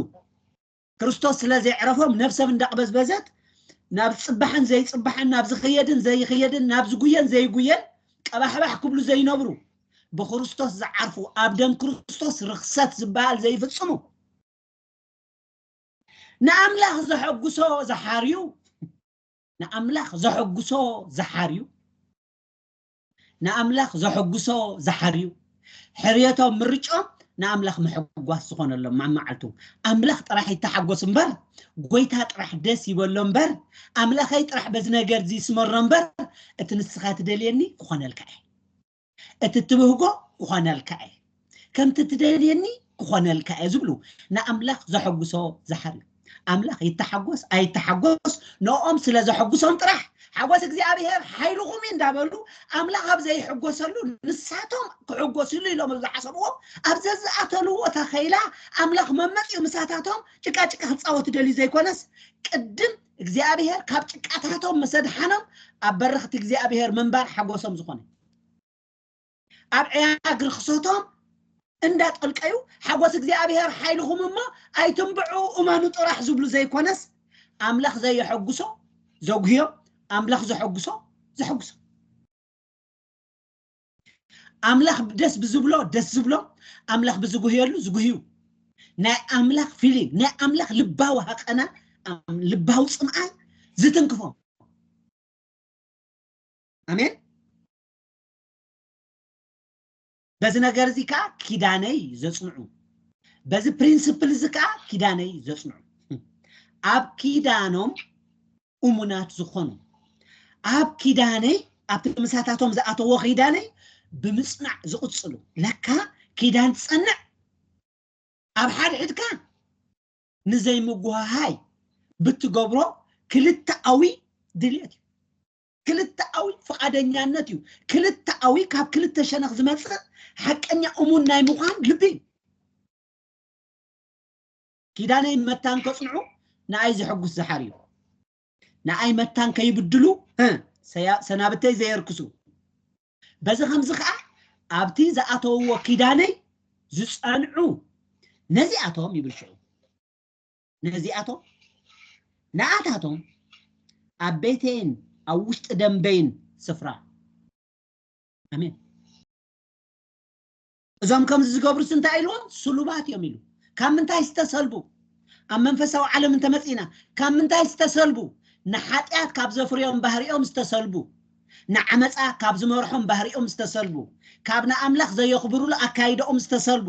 ክርስቶስ ስለ ዜዕረፎም ነፍሰም እንዳቕበዝበዘት ናብ ጽባሕን ዘይጽባሕን ናብ ዝኽየድን ዘይኽየድን ናብ ዝጉየን ዘይጉየን ቀባሕባሕ ክብሉ ዘይነብሩ ብክርስቶስ ዝዓርፉ ኣብ ደም ክርስቶስ ርኽሰት ዝበሃል ዘይፍጽሙ ንኣምላኽ ዘሐጉሶ ዝሓርዩ ንኣምላኽ ዘሐጉሶ ዝሓርዩ ንኣምላኽ ዘሐጉሶ ዝሓርዩ ሕርየቶም ምርጭኦም ንኣምላኽ ምሕጓስ ዝኾነሎም ማማዓልቱ ኣምላኽ ጥራሕ ይተሓጎስ እምበር ጎይታ ጥራሕ ደስ ይበሎ እምበር ኣምላኸይ ጥራሕ በዚ ነገር እዚ ይስመሮ እምበር እቲ ንስኻ ትደልየኒ ክኾነልካ እየ እቲ ትብህጎ ክኾነልካ እየ ከምቲ ትደልየኒ ክኾነልካ እየ ዝብሉ ንኣምላኽ ዘሐጉሶ ዝሓር እዩ ኣምላኽ ይተሓጎስ ኣይተሓጎስ ንኦም ስለ ዘሐጉሶም ጥራሕ ሓጎስ እግዚኣብሄር ሓይልኹም እዩ እንዳበሉ ኣምላኽ ኣብ ዘይሕጎሰሉ ንሳቶም ክሕጎስሉ ኢሎም ዝሓሰብዎ ኣብ ዘዝኣተልዎ ተኸይላ ኣምላኽ መመፅኡ ምሳታቶም ጭቃጭቃ ክፃወት ደልዩ ዘይኮነስ ቅድም እግዚኣብሄር ካብ ጭቃታቶም ምሰድሓኖም ኣብ በረኽቲ እግዚኣብሄር ምንባር ሓጎሶም ዝኾነ ኣብ ዕያግ ርኽሰቶም እንዳጠልቀዩ ሓጎስ እግዚኣብሔር ሓይልኹም እሞ ኣይትንብዑ እመኑ ጥራሕ ዝብሉ ዘይኮነስ ኣምላኽ ዘየሐጉሶ ዘጉህዮ ኣምላኽ ዘሐጉሶ ዘሐጉሶ ኣምላኽ ደስ ብዝብሎ ደስ ዝብሎ ኣምላኽ ብዝጉህየሉ ዝጉህዩ ናይ ኣምላኽ ፊሊንግ ናይ ኣምላኽ ልባዊ ሃቀና ልባዊ ፅምኣን ዝትንክፎም ኣሜን በዚ ነገር እዚ ከዓ ኪዳነይ ዘፅንዑ በዚ ፕሪንስፕል እዚ ከዓ ኪዳነይ ዘፅንዑ ኣብ ኪዳኖም እሙናት ዝኾኑ ኣብ ኪዳነይ ኣብቲ ምሳታቶም ዝኣተዎ ኪዳነይ ብምፅናዕ ዝቕፅሉ ለካ ኪዳን ትፀንዕ ኣብ ሓድሕድካ ንዘይምጉሃሃይ ብትገብሮ ክልተኣዊ ድልየት እዩ ክልተኣዊ ፍቓደኛነት እዩ። ክልተኣዊ ካብ ክልተ ሸነኽ ዝመጽእ ሓቀኛ እሙን ናይ ምዃን ልቢ እዩ። ኪዳነይን መታን ከጽንዑ ንኣይ ዘሐጉስ ዝሓር እዩ። ንኣይ መታን ከይብድሉ እ፣ ሰያ- ሰናብተይ ዘየርክሱ በዚ ከምዚ ከዓ ኣብቲ ዝኣተውዎ ኪዳነይ ዝጸንዑ ነዚኣቶም ይብል ሽዑ ነዚኣቶም ንኣታቶም ኣብ ቤተይን ኣብ ውሽጢ ደንበይን ስፍራ ኣሜን እዞም ከምዚ ዝገብሩስ እንታይ ኢልዎም ስሉባት እዮም ኢሉ ካብ ምንታይ ዝተሰልቡ ኣብ መንፈሳዊ ዓለም እንተመፂእና ካብ ምንታይ ዝተሰልቡ ንሓጢኣት ካብ ዘፍርዮም ባህሪኦም ዝተሰልቡ ንዓመጻ ካብ ዝመርሖም ባህሪኦም ዝተሰልቡ፣ ካብ ንኣምላኽ ዘየኽብሩሉ ኣካይዳኦም ዝተሰልቡ፣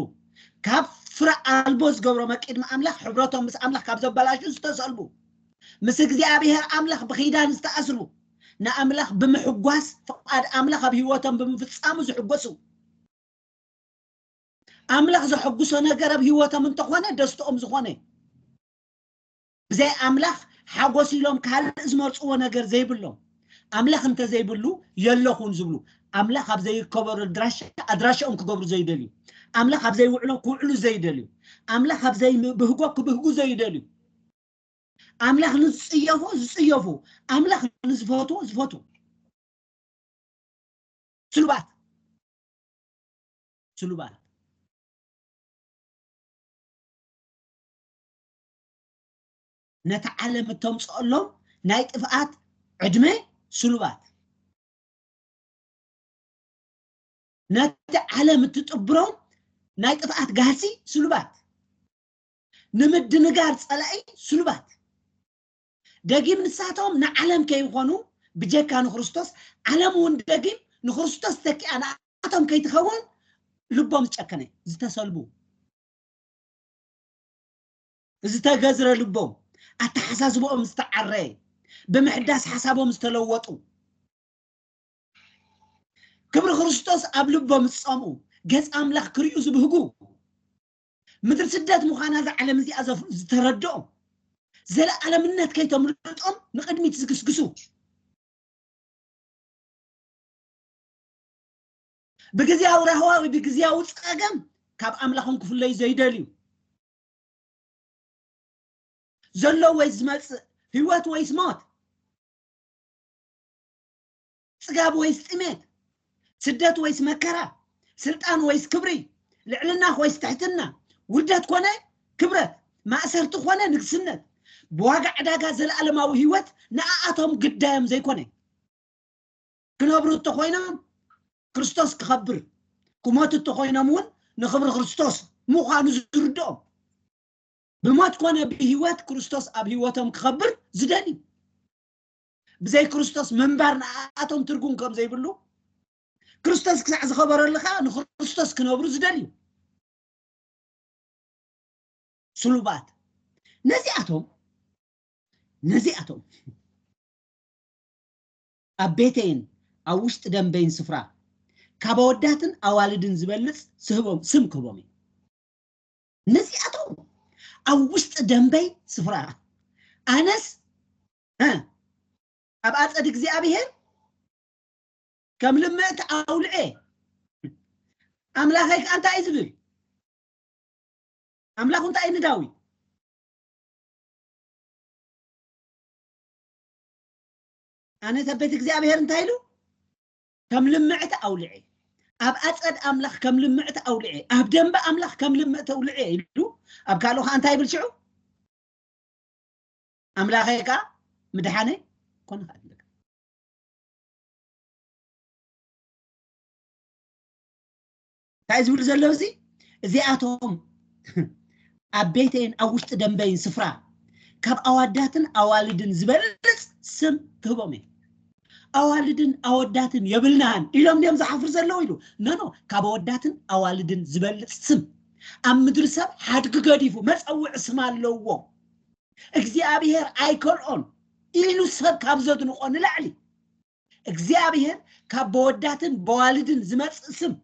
ካብ ፍረ ኣልቦ ዝገብሮ መቂድሚ ኣምላኽ ሕብረቶም ምስ ኣምላኽ ካብ ዘበላሹ ዝተሰልቡ፣ ምስ እግዚኣብሔር ኣምላኽ ብኺዳን ዝተኣስሩ፣ ንኣምላኽ ብምሕጓስ ፍቓድ ኣምላኽ ኣብ ሕይወቶም ብምፍጻሙ ዝሕጎሱ፣ ኣምላኽ ዘሐጉሶ ነገር ኣብ ሕይወቶም እንተኾነ ደስትኦም ዝኾነ፣ ብዘይ ኣምላኽ ሓጎስ ኢሎም ካልእ ዝመርጽዎ ነገር ዘይብሎም ኣምላኽ እንተዘይብሉ የለኹን ዝብሉ ኣምላኽ ኣብ ዘይርከበሉ ኣድራሻ ኣድራሻኦም ክገብሩ ዘይደልዩ ኣምላኽ ኣብ ዘይውዕሎ ክውዕሉ ዘይደልዩ ኣምላኽ ኣብ ዘይብህጎ ክብህጉ ዘይደልዩ ኣምላኽ ንዝጽየፎ ዝጽየፉ ኣምላኽ ንዝፈትዎ ዝፈትዉ ስሉባት ስሉባት ነታ ዓለም እተምፅኦሎም ናይ ጥፍኣት ዕድመ ስሉባት ነቲ ዓለም እትጥብሮም ናይ ጥፍኣት ጋህሲ ስሉባት ንምድንጋር ፀላኢ ስሉባት ደጊም ንሳቶም ንዓለም ከይኾኑ ብጀካ ንክርስቶስ ዓለም እውን ደጊም ንክርስቶስ ተኪኣ ንኣቶም ከይትኸውን ልቦም ዝጨከነ ዝተሰልቡ ዝተገዝረ ልቦም፣ ኣተሓሳስብኦም ዝተዓረየ፣ ብምሕዳስ ሓሳቦም ዝተለወጡ፣ ክብሪ ክርስቶስ ኣብ ልቦም ዝጸምኡ፣ ገጽ ኣምላኽ ክርእዩ ዝብህጉ፣ ምድሪ ስደት ምዃና እዛ ዓለም እዚኣ ዝተረድኦም፣ ዘለኣለምነት ከይተምልጦም ንቕድሚት ዝግስግሱ፣ ብግዝያዊ ራህዋ ወይ ብግዝያዊ ጸገም ካብ ኣምላኾም ክፍለዩ ዘይደልዩ ዘሎ ወይ ዝመጽእ ህይወት ወይስ ሞት ጽጋብ ወይስ ጥሜት ስደት ወይስ መከራ ስልጣን ወይስ ክብሪ ልዕልና ወይስ ትሕትና ውርደት ኮነ ክብረት ማእሰርቲ ኮነ ንግስነት ብዋጋ ዕዳጋ ዘለኣለማዊ ህይወት ንኣኣቶም ግዳዮም ዘይኮነ ክነብሩ እንተኾይኖም ክርስቶስ ክኸብር ክሞቱ እንተኾይኖም እውን ንኽብሪ ክርስቶስ ምዃኑ ዝርድኦም ብሞት ኮነ ብህይወት ክርስቶስ ኣብ ህይወቶም ክኸብር ዝደልዩ ብዘይ ክርስቶስ ምንባር ንኣቶም ትርጉም ከም ዘይብሉ ክርስቶስ ክሳዕ ዝኸበረሉ ከዓ ንክርስቶስ ክነብሩ ዝደልዩ ስሉባት ነዚኣቶም ነዚኣቶም ኣብ ቤተይን ኣብ ውሽጢ ደምበይን ስፍራ ካብ ኣወዳትን ኣዋልድን ዝበልጽ ስህቦም ስም ክህቦም እዩ ነዚኣቶም ኣብ ውሽጢ ደምበይ ስፍራ ኣነስ እ ኣብ ኣጸድ እግዚኣብሔር ከም ልምእቲ ኣውልዔ ኣምላኸይ ከዓ እንታይ እዩ ዝብል ኣምላኹ እንታይ እዩ ንዳዊት ኣነ ሰብ ቤት እግዚኣብሔር እንታይ ኢሉ ከም ልምዕቲ ኣውልዐ ኣብ ኣፀድ ኣምላኽ ከም ልምዕቲ ኣውልዐ ኣብ ደንበ ኣምላኽ ከም ልምዕቲ ኣውልዐ ኢሉ ኣብ ካልኡ ከዓ እንታይ ይብል ሽዑ ኣምላኸ ከዓ ምድሓነ ኮነ ከዓ ትልካ እንታይ ዝብል ዘሎ እዚ እዚኣቶም ኣብ ቤተይን ኣብ ውሽጢ ደንበይን ስፍራ ካብ ኣዋዳትን ኣዋልድን ዝበልፅ ስም ክህቦም እየ ኣዋልድን ኣወዳትን የብልናን ኢሎም ድዮም ዝሓፍሩ ዘለዉ ኢሉ ነኖ ካብ ኣወዳትን ኣዋልድን ዝበልፅ ስም ኣብ ምድሪ ሰብ ሓድጊ ገዲፉ መፀውዒ ስም ኣለዎ እግዚኣብሄር ኣይከልኦን ኢሉ ሰብ ካብ ዘድንቆ ንላዕሊ እግዚኣብሔር ካብ በወዳትን በዋልድን ዝመጽእ ስም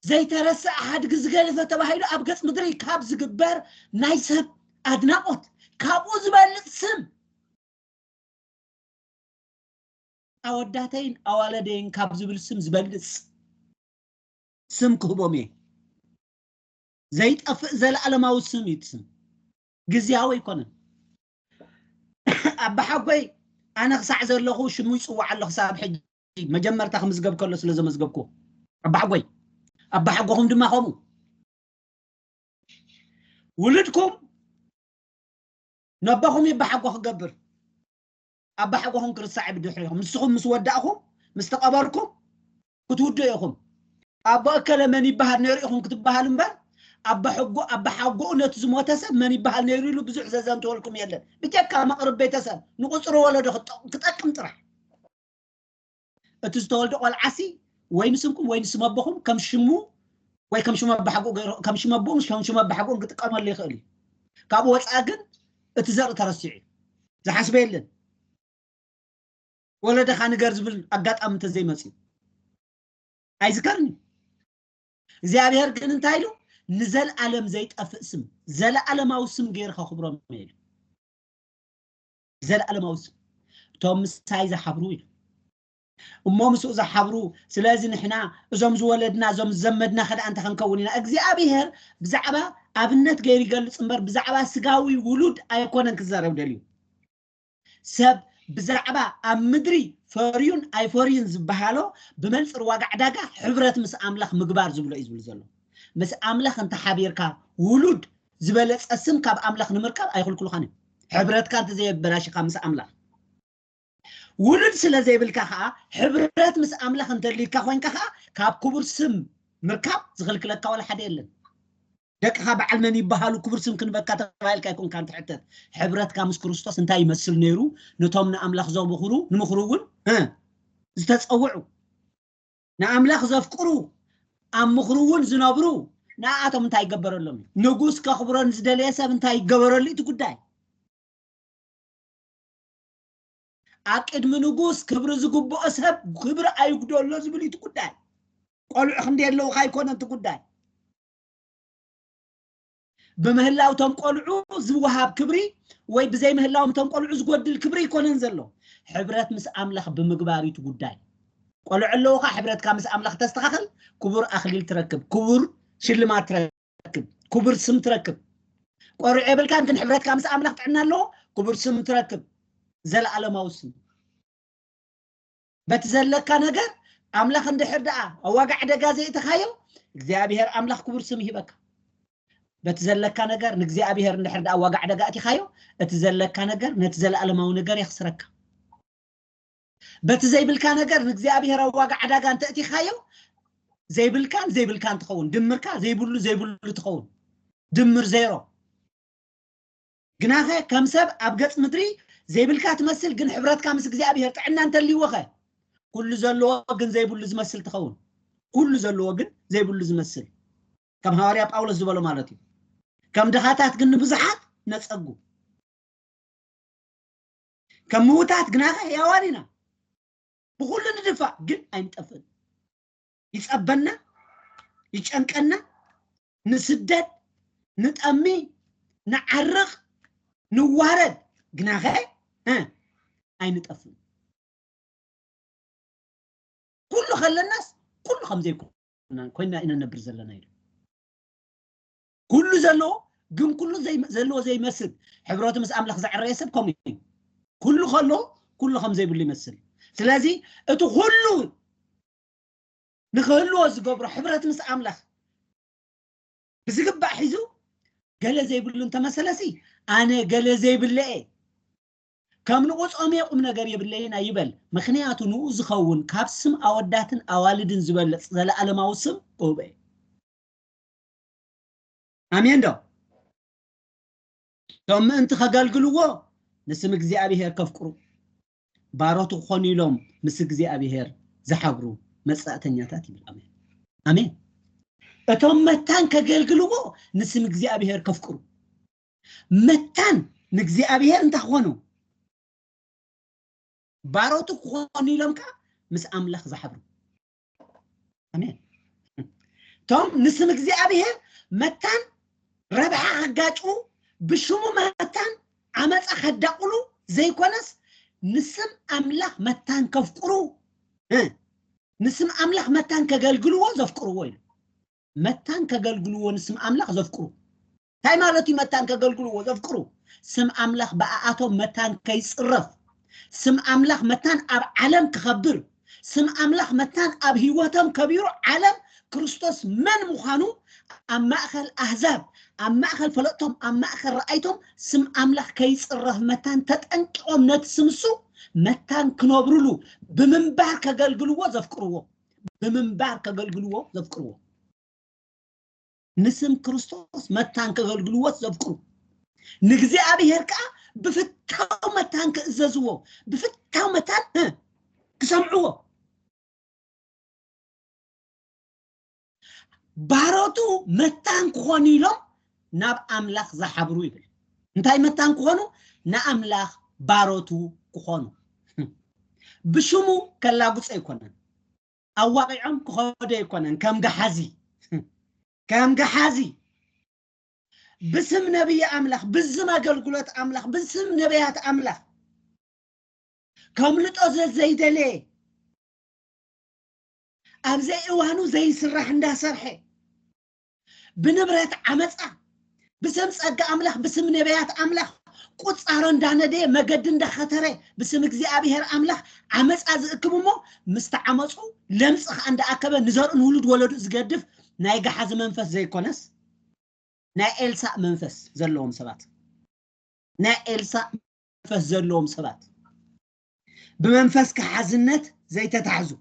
ዘይተረስዐ ሓድጊ ዝገድፈ ተባሂሉ ኣብ ገጽ ምድሪ ካብ ዝግበር ናይ ሰብ ኣድናቆት ካብኡ ዝበልጽ ስም ኣወዳተይን ኣዋለደይን ካብ ዝብል ስም ዝበልጽ ስም ክህቦም እየ ዘይጠፍእ ዘለኣለማዊ ስም እዩ እቲ ስም ግዝያዊ ኣይኮነን ኣባሓጎይ ኣነ ክሳዕ ዘለኹ ሽሙ ይጽዋዕ ኣሎ ክሳብ ሕጂ መጀመርታ ክምዝገብ ከሎ ስለ ዘመዝገብኩዎ ኣባሓጎይ ኣባሓጎኹም ድማ ከምኡ ውልድኩም ነቦኹም ይባሓጎ ክገብር ኣባሓጎኹም ክርሳዕ ብድሕሪኹም ንስኹም ምስ ወዳእኹም ምስ ተቐበርኩም ክትውድኡ ኢኹም። ኣቦ እከለ መን ይበሃል ነይሩ ኢኹም ክትበሃሉ እምበር፣ ኣባሓጎኡ ነቲ ዝሞተ ሰብ መን ይበሃል ነይሩ ኢሉ ብዙሕ ዘዘንትወልኩም የለን፣ ብጀካ መቕርብ ቤተሰብ ንቑጽሪ ወለዶ ክጠቅም ጥራሕ። እቲ ዝተወልደ ቆልዓሲ ወይ ንስምኩም ወይ ንስም ኣቦኹም ከም ሽሙ ወይ ከም ሽም ኣባሓጎኡ ገይሩ ከም ሽም ኣቦኡን ከም ሽም ኣባሓጎኡን ክጥቀመሉ ይኽእል እዩ። ካብኡ ወጻኢ ግን እቲ ዘርኢ ተረሲዑ እዩ። ዝሓስበ የለን። ወለደኻ ንገር ዝብል ኣጋጣሚ እንተዘይመፅዩ ኣይዝከርን እዩ እግዚኣብሔር ግን እንታይ ኢሉ ንዘለኣለም ዘይጠፍእ ስም ዘለኣለማዊ ስም ገይሩ ከኽብሮም ኢሉ ዘለኣለማዊ ስም እቶም ምሳይ ዝሓብሩ ኢሉ እሞ ምስኡ ዝሓብሩ ስለዚ ንሕና እዞም ዝወለድና እዞም ዝዘመድና ከደኣ እንተ ክንከውን ኢና እግዚኣብሄር ብዛዕባ ኣብነት ገይሩ ይገልፅ እምበር ብዛዕባ ስጋዊ ውሉድ ኣይኮነን ክዛረብ ደልዩ ሰብ ብዛዕባ ኣብ ምድሪ ፈርዩን ኣይፈርዩን ዝበሃሎ ብመንፅር ዋጋ ዕዳጋ ሕብረት ምስ ኣምላኽ ምግባር ዝብሎ እዩ ዝብል ዘሎ። ምስ ኣምላኽ እንተሓቢርካ ውሉድ ዝበለፀ ስም ካብ ኣምላኽ ንምርካብ ኣይኽልክሉኻን እዮም። ሕብረትካ እንተዘየበላሽኻ ምስ ኣምላኽ ውሉድ ስለ ዘይብልካ ከዓ ሕብረት ምስ ኣምላኽ እንተልዩካ ኮይንካ ከዓ ካብ ክቡር ስም ምርካብ ዝኽልክለካ ዋላ ሓደ የለን። ደቅኻ በዓል መን ይበሃሉ ክቡር ስም ክንበካ ተባሂልካ ኣይኮንካን ትሕተት ሕብረትካ ምስ ክርስቶስ እንታይ ይመስል ነይሩ ነቶም ንኣምላኽ ዘብኽሩ ንምኽሩ እውን ዝተፀውዑ ንኣምላኽ ዘፍቅሩ ኣብ ምኽሩ እውን ዝነብሩ ንኣቶም እንታይ ይገበረሎም እዩ ንጉስ ከኽብሮ ንዝደለየ ሰብ እንታይ ይገበረሉ እቲ ጉዳይ ኣብ ቅድሚ ንጉስ ክብሪ ዝግብኦ ሰብ ክብሪ ኣይጉደሎ ዝብል እቲ ጉዳይ ቆልዑ ክንደይ ኣለውካ ኣይኮነ እቲ ጉዳይ ብምህላው እቶም ቆልዑ ዝወሃብ ክብሪ ወይ ብዘይምህላዎም እቶም ቆልዑ ዝጎድል ክብሪ ኣይኮነን ዘሎ ሕብረት ምስ ኣምላኽ ብምግባር እዩ እቲ ጉዳይ ቆልዑ ኣለውኻ ሕብረትካ ምስ ኣምላኽ ተስተኻኸል ክቡር ኣኽሊል ትረክብ ክቡር ሽልማት ትረክብ ክቡር ስም ትረክብ ቆርዑ የብልካን ግን ሕብረትካ ምስ ኣምላኽ ጥዕና ኣለዎ ክቡር ስም ትረክብ ዘለኣለማዊ ስም በቲ ዘለካ ነገር ኣምላኽ እንድሕር ደኣ ኣብ ዋጋ ዕደጋ ዘእተኻዮ እግዚኣብሔር ኣምላኽ ክቡር ስም ይህበካ በቲ ዘለካ ነገር ንእግዚኣብሔር እንድሕር ደኣ ዋጋ ዕደጋ እቲኻዮ እቲ ዘለካ ነገር ነቲ ዘለኣለማዊ ነገር የኽስረካ በቲ ዘይብልካ ነገር ንእግዚኣብሔር ኣብ ዋጋ ዕዳጋ እንተእቲኻዮ ዘይብልካን ዘይብልካን ትኸውን ድምርካ ዘይብሉ ዘይብሉ ትኸውን ድምር ዜሮ ግናኸ ከም ሰብ ኣብ ገጽ ምድሪ ዘይብልካ ትመስል ግን ሕብረትካ ምስ እግዚኣብሔር ጥዕና እንተልይዎኸ ኩሉ ዘለዎ ግን ዘይብሉ ዝመስል ትኸውን ኩሉ ዘለዎ ግን ዘይብሉ ዝመስል ከም ሃዋርያ ጳውሎስ ዝበሎ ማለት እዩ ከም ድኻታት ግን ንብዙሓት ነጸጉ ከም ምውታት ግናኸ ሕያዋን ኢና ብኹሉ ንድፋእ ግን ኣይንጠፍእን ይጸበና ይጨንቀና ንስደድ ንጠሚ ንዓርቕ ንዋረድ ግናኸ እ ኣይንጠፍን ኩሉ ከለናስ ኩሉ ከም ዘይኮና ኮይና ኢና ነብር ዘለና ኢሉ ኩሉ ዘለዎ ግን ኩሉ ዘይ- ዘለዎ ዘይመስል ሕብረቱ ምስ ኣምላኽ ዘዕረየ ሰብ ከምኡ እዩ ኩሉ ከሎ ኩሉ ከም ዘይብሉ ይመስል ስለዚ እቲ ኩሉ ንክህልዎ ዝገብሮ ሕብረት ምስ ኣምላኽ ብዝግባእ ሒዙ ገለ ዘይብሉ እንተመሰለሲ ኣነ ገለ ዘይብለ እየ ከም ንቑጾም እየ ቁም ነገር የብለይን ኣይበል ምክንያቱ ንኡ ዝኸውን ካብ ስም ኣወዳትን ኣዋልድን ዝበልጽ ዘለኣለማዊ ስም እሁበ እዩ ኣሜን ዶ እቶም ምእንቲ ከገልግልዎ ንስም እግዚኣብሄር ከፍቅሩ ባሮቱ ክኾኑ ኢሎም ምስ እግዚኣብሔር ዝሓብሩ መጻእተኛታት ይብል ኣሜን ኣሜን እቶም መታን ከገልግልዎ ንስም እግዚኣብሔር ከፍቅሩ መታን ንእግዚኣብሔር እንታይ ክኾኑ ባሮቱ ክኾኑ ኢሎም ከዓ ምስ ኣምላኽ ዝሓብሩ ኣሜን እቶም ንስም እግዚኣብሔር መታን ረብሓ ከጋጭዉ ብሽሙ መታን ዓመፃ ከዳቕሉ ዘይኮነስ ንስም ኣምላኽ መታን ከፍቅሩ እ፣ ንስም ኣምላኽ መታን ከገልግልዎ ዘፍቅርዎ እዩ መታን ከገልግልዎ ንስም ኣምላኽ ዘፍቅሩ እንታይ ማለት እዩ መታን ከገልግልዎ ዘፍቅሩ ስም ኣምላኽ ብኣኣቶም መታን ከይጽረፍ ስም ኣምላኽ መታን ኣብ ዓለም ክኸብር ስም ኣምላኽ መታን ኣብ ህይወቶም ከቢሩ ዓለም ክርስቶስ መን ምዃኑ ኣብ ማእኸል ኣህዛብ ኣብ ማእኸል ፈለጥቶም ኣብ ማእኸል ረኣይቶም ስም ኣምላኽ ከይፅረፍ መታን ተጠንቂቖም ነቲ ስምሱ መታን ክነብርሉ ብምንባር ከገልግልዎ ዘፍቅርዎ ብምንባር ከገልግልዎ ዘፍቅርዎ ንስም ክርስቶስ መታን ከገልግልዎት ዘብቅሩ ንእግዚኣብሔር ከዓ ብፍታው መታን ክእዘዝዎ ብፍታው መታን ክሰምዕዎ ባሮቱ መታን ክኾኑ ኢሎም ናብ ኣምላኽ ዝሓብሩ ይብል እንታይ መታን ክኾኑ ንኣምላኽ ባሮቱ ክኾኑ ብሽሙ ከላጉፀ ኣይኮነን ኣዋቒዖም ክኸዱ ኣይኮነን ከም ገሓዚ ከም ገሓዚ ብስም ነቢይ ኣምላኽ ብዝም ኣገልግሎት ኣምላኽ ብስም ነቢያት ኣምላኽ ከምልጦ ዘዘይደለየ ኣብ ዘይእዋኑ ዘይስራሕ እንዳሰርሐ ብንብረት ዓመጻ ብስም ጸጋ ኣምላኽ ብስም ነቢያት ኣምላኽ ቁጻሮ እንዳነደየ መገዲ እንዳኸተረ ብስም እግዚኣብሔር ኣምላኽ ዓመጻ ዝእክብ እሞ ምስ ተዓመጹ ለምጽ ከኣ እንዳኣከበ ንዘርኡ ንውሉድ ወለዱ ዝገድፍ ናይ ገሓዚ መንፈስ ዘይኮነስ ናይ ኤልሳእ መንፈስ ዘለዎም ሰባት ናይ ኤልሳእ መንፈስ ዘለዎም ሰባት ብመንፈስ ከሓዝነት ዘይተታሕዙ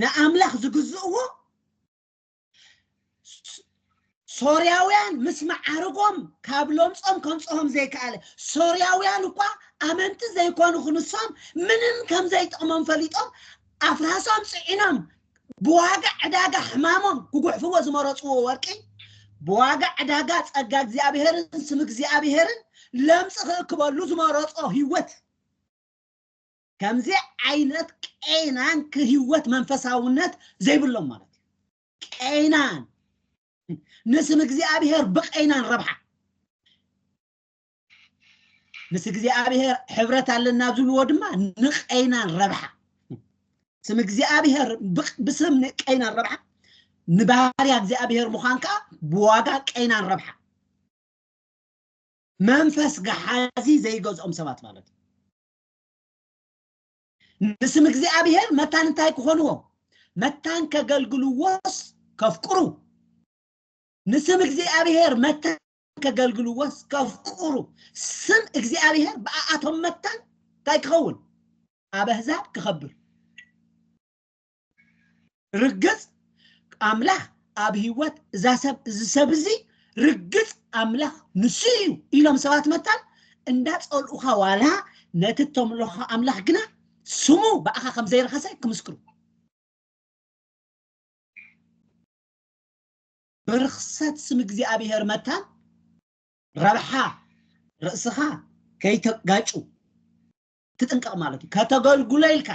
ንኣምላኽ ዝግዝእዎ ሶርያውያን ምስ መዓርጎም ካብ ሎምጾም ከምጽኦም ዘይከኣለ ሶርያውያን እኳ ኣመንቲ ዘይኮኑ ክንሶም ምንም ከም ዘይጥቕሞም ፈሊጦም ኣፍራሶም ጽዒኖም ብዋጋ ዕዳጋ ሕማሞም ክጉሕፍዎ ዝመረጽዎ ወርቂ ብዋጋ ዕዳጋ ጸጋ እግዚኣብሔርን ስም እግዚኣብሔርን ለምጽ ክእክበሉ ዝመረጾ ህይወት ከምዚ ዓይነት ቀይናን ክህወት መንፈሳውነት ዘይብሎም ማለት እዩ ቀይናን ንስም እግዚኣብሔር ብቀይናን ረብሓ ምስ እግዚኣብሔር ሕብረት ኣለና ዝብልዎ ድማ ንቀይናን ረብሓ ስም እግዚኣብሔር ብስም ቀይናን ረብሓ ንባህርያ እግዚኣብሔር ምዃን ከዓ ብዋጋ ቀይናን ረብሓ መንፈስ ገሓዚ ዘይገዝኦም ሰባት ማለት እዩ ንስም እግዚኣብሔር መታን እንታይ ክኾንዎ መታን ከገልግልዎስ ከፍቅሩ ንስም እግዚኣብሔር መታን ከገልግልዎስ ከፍቅሩ ስም እግዚኣብሔር ብኣኣቶም መታን እንታይ ክኸውን ኣብ ኣህዛብ ክኸብር ርግጽ ኣምላኽ ኣብ ህይወት እዛ ሰብ እዚ ሰብ እዚ ርግጽ ኣምላኽ ንሱ እዩ ኢሎም ሰባት መታን እንዳጸልኡኻ ዋላ ነቲ እተምልኾ ኣምላኽ ግና ስሙ ብኣኻ ከም ዘይረኸሰ ክምስክሩ ብርክሰት ስም እግዚኣብሄር መታን ረብሓ ርእስኻ ከይተጋጩ ትጥንቀቕ ማለት እዩ ከተገልግሎ ኢልካ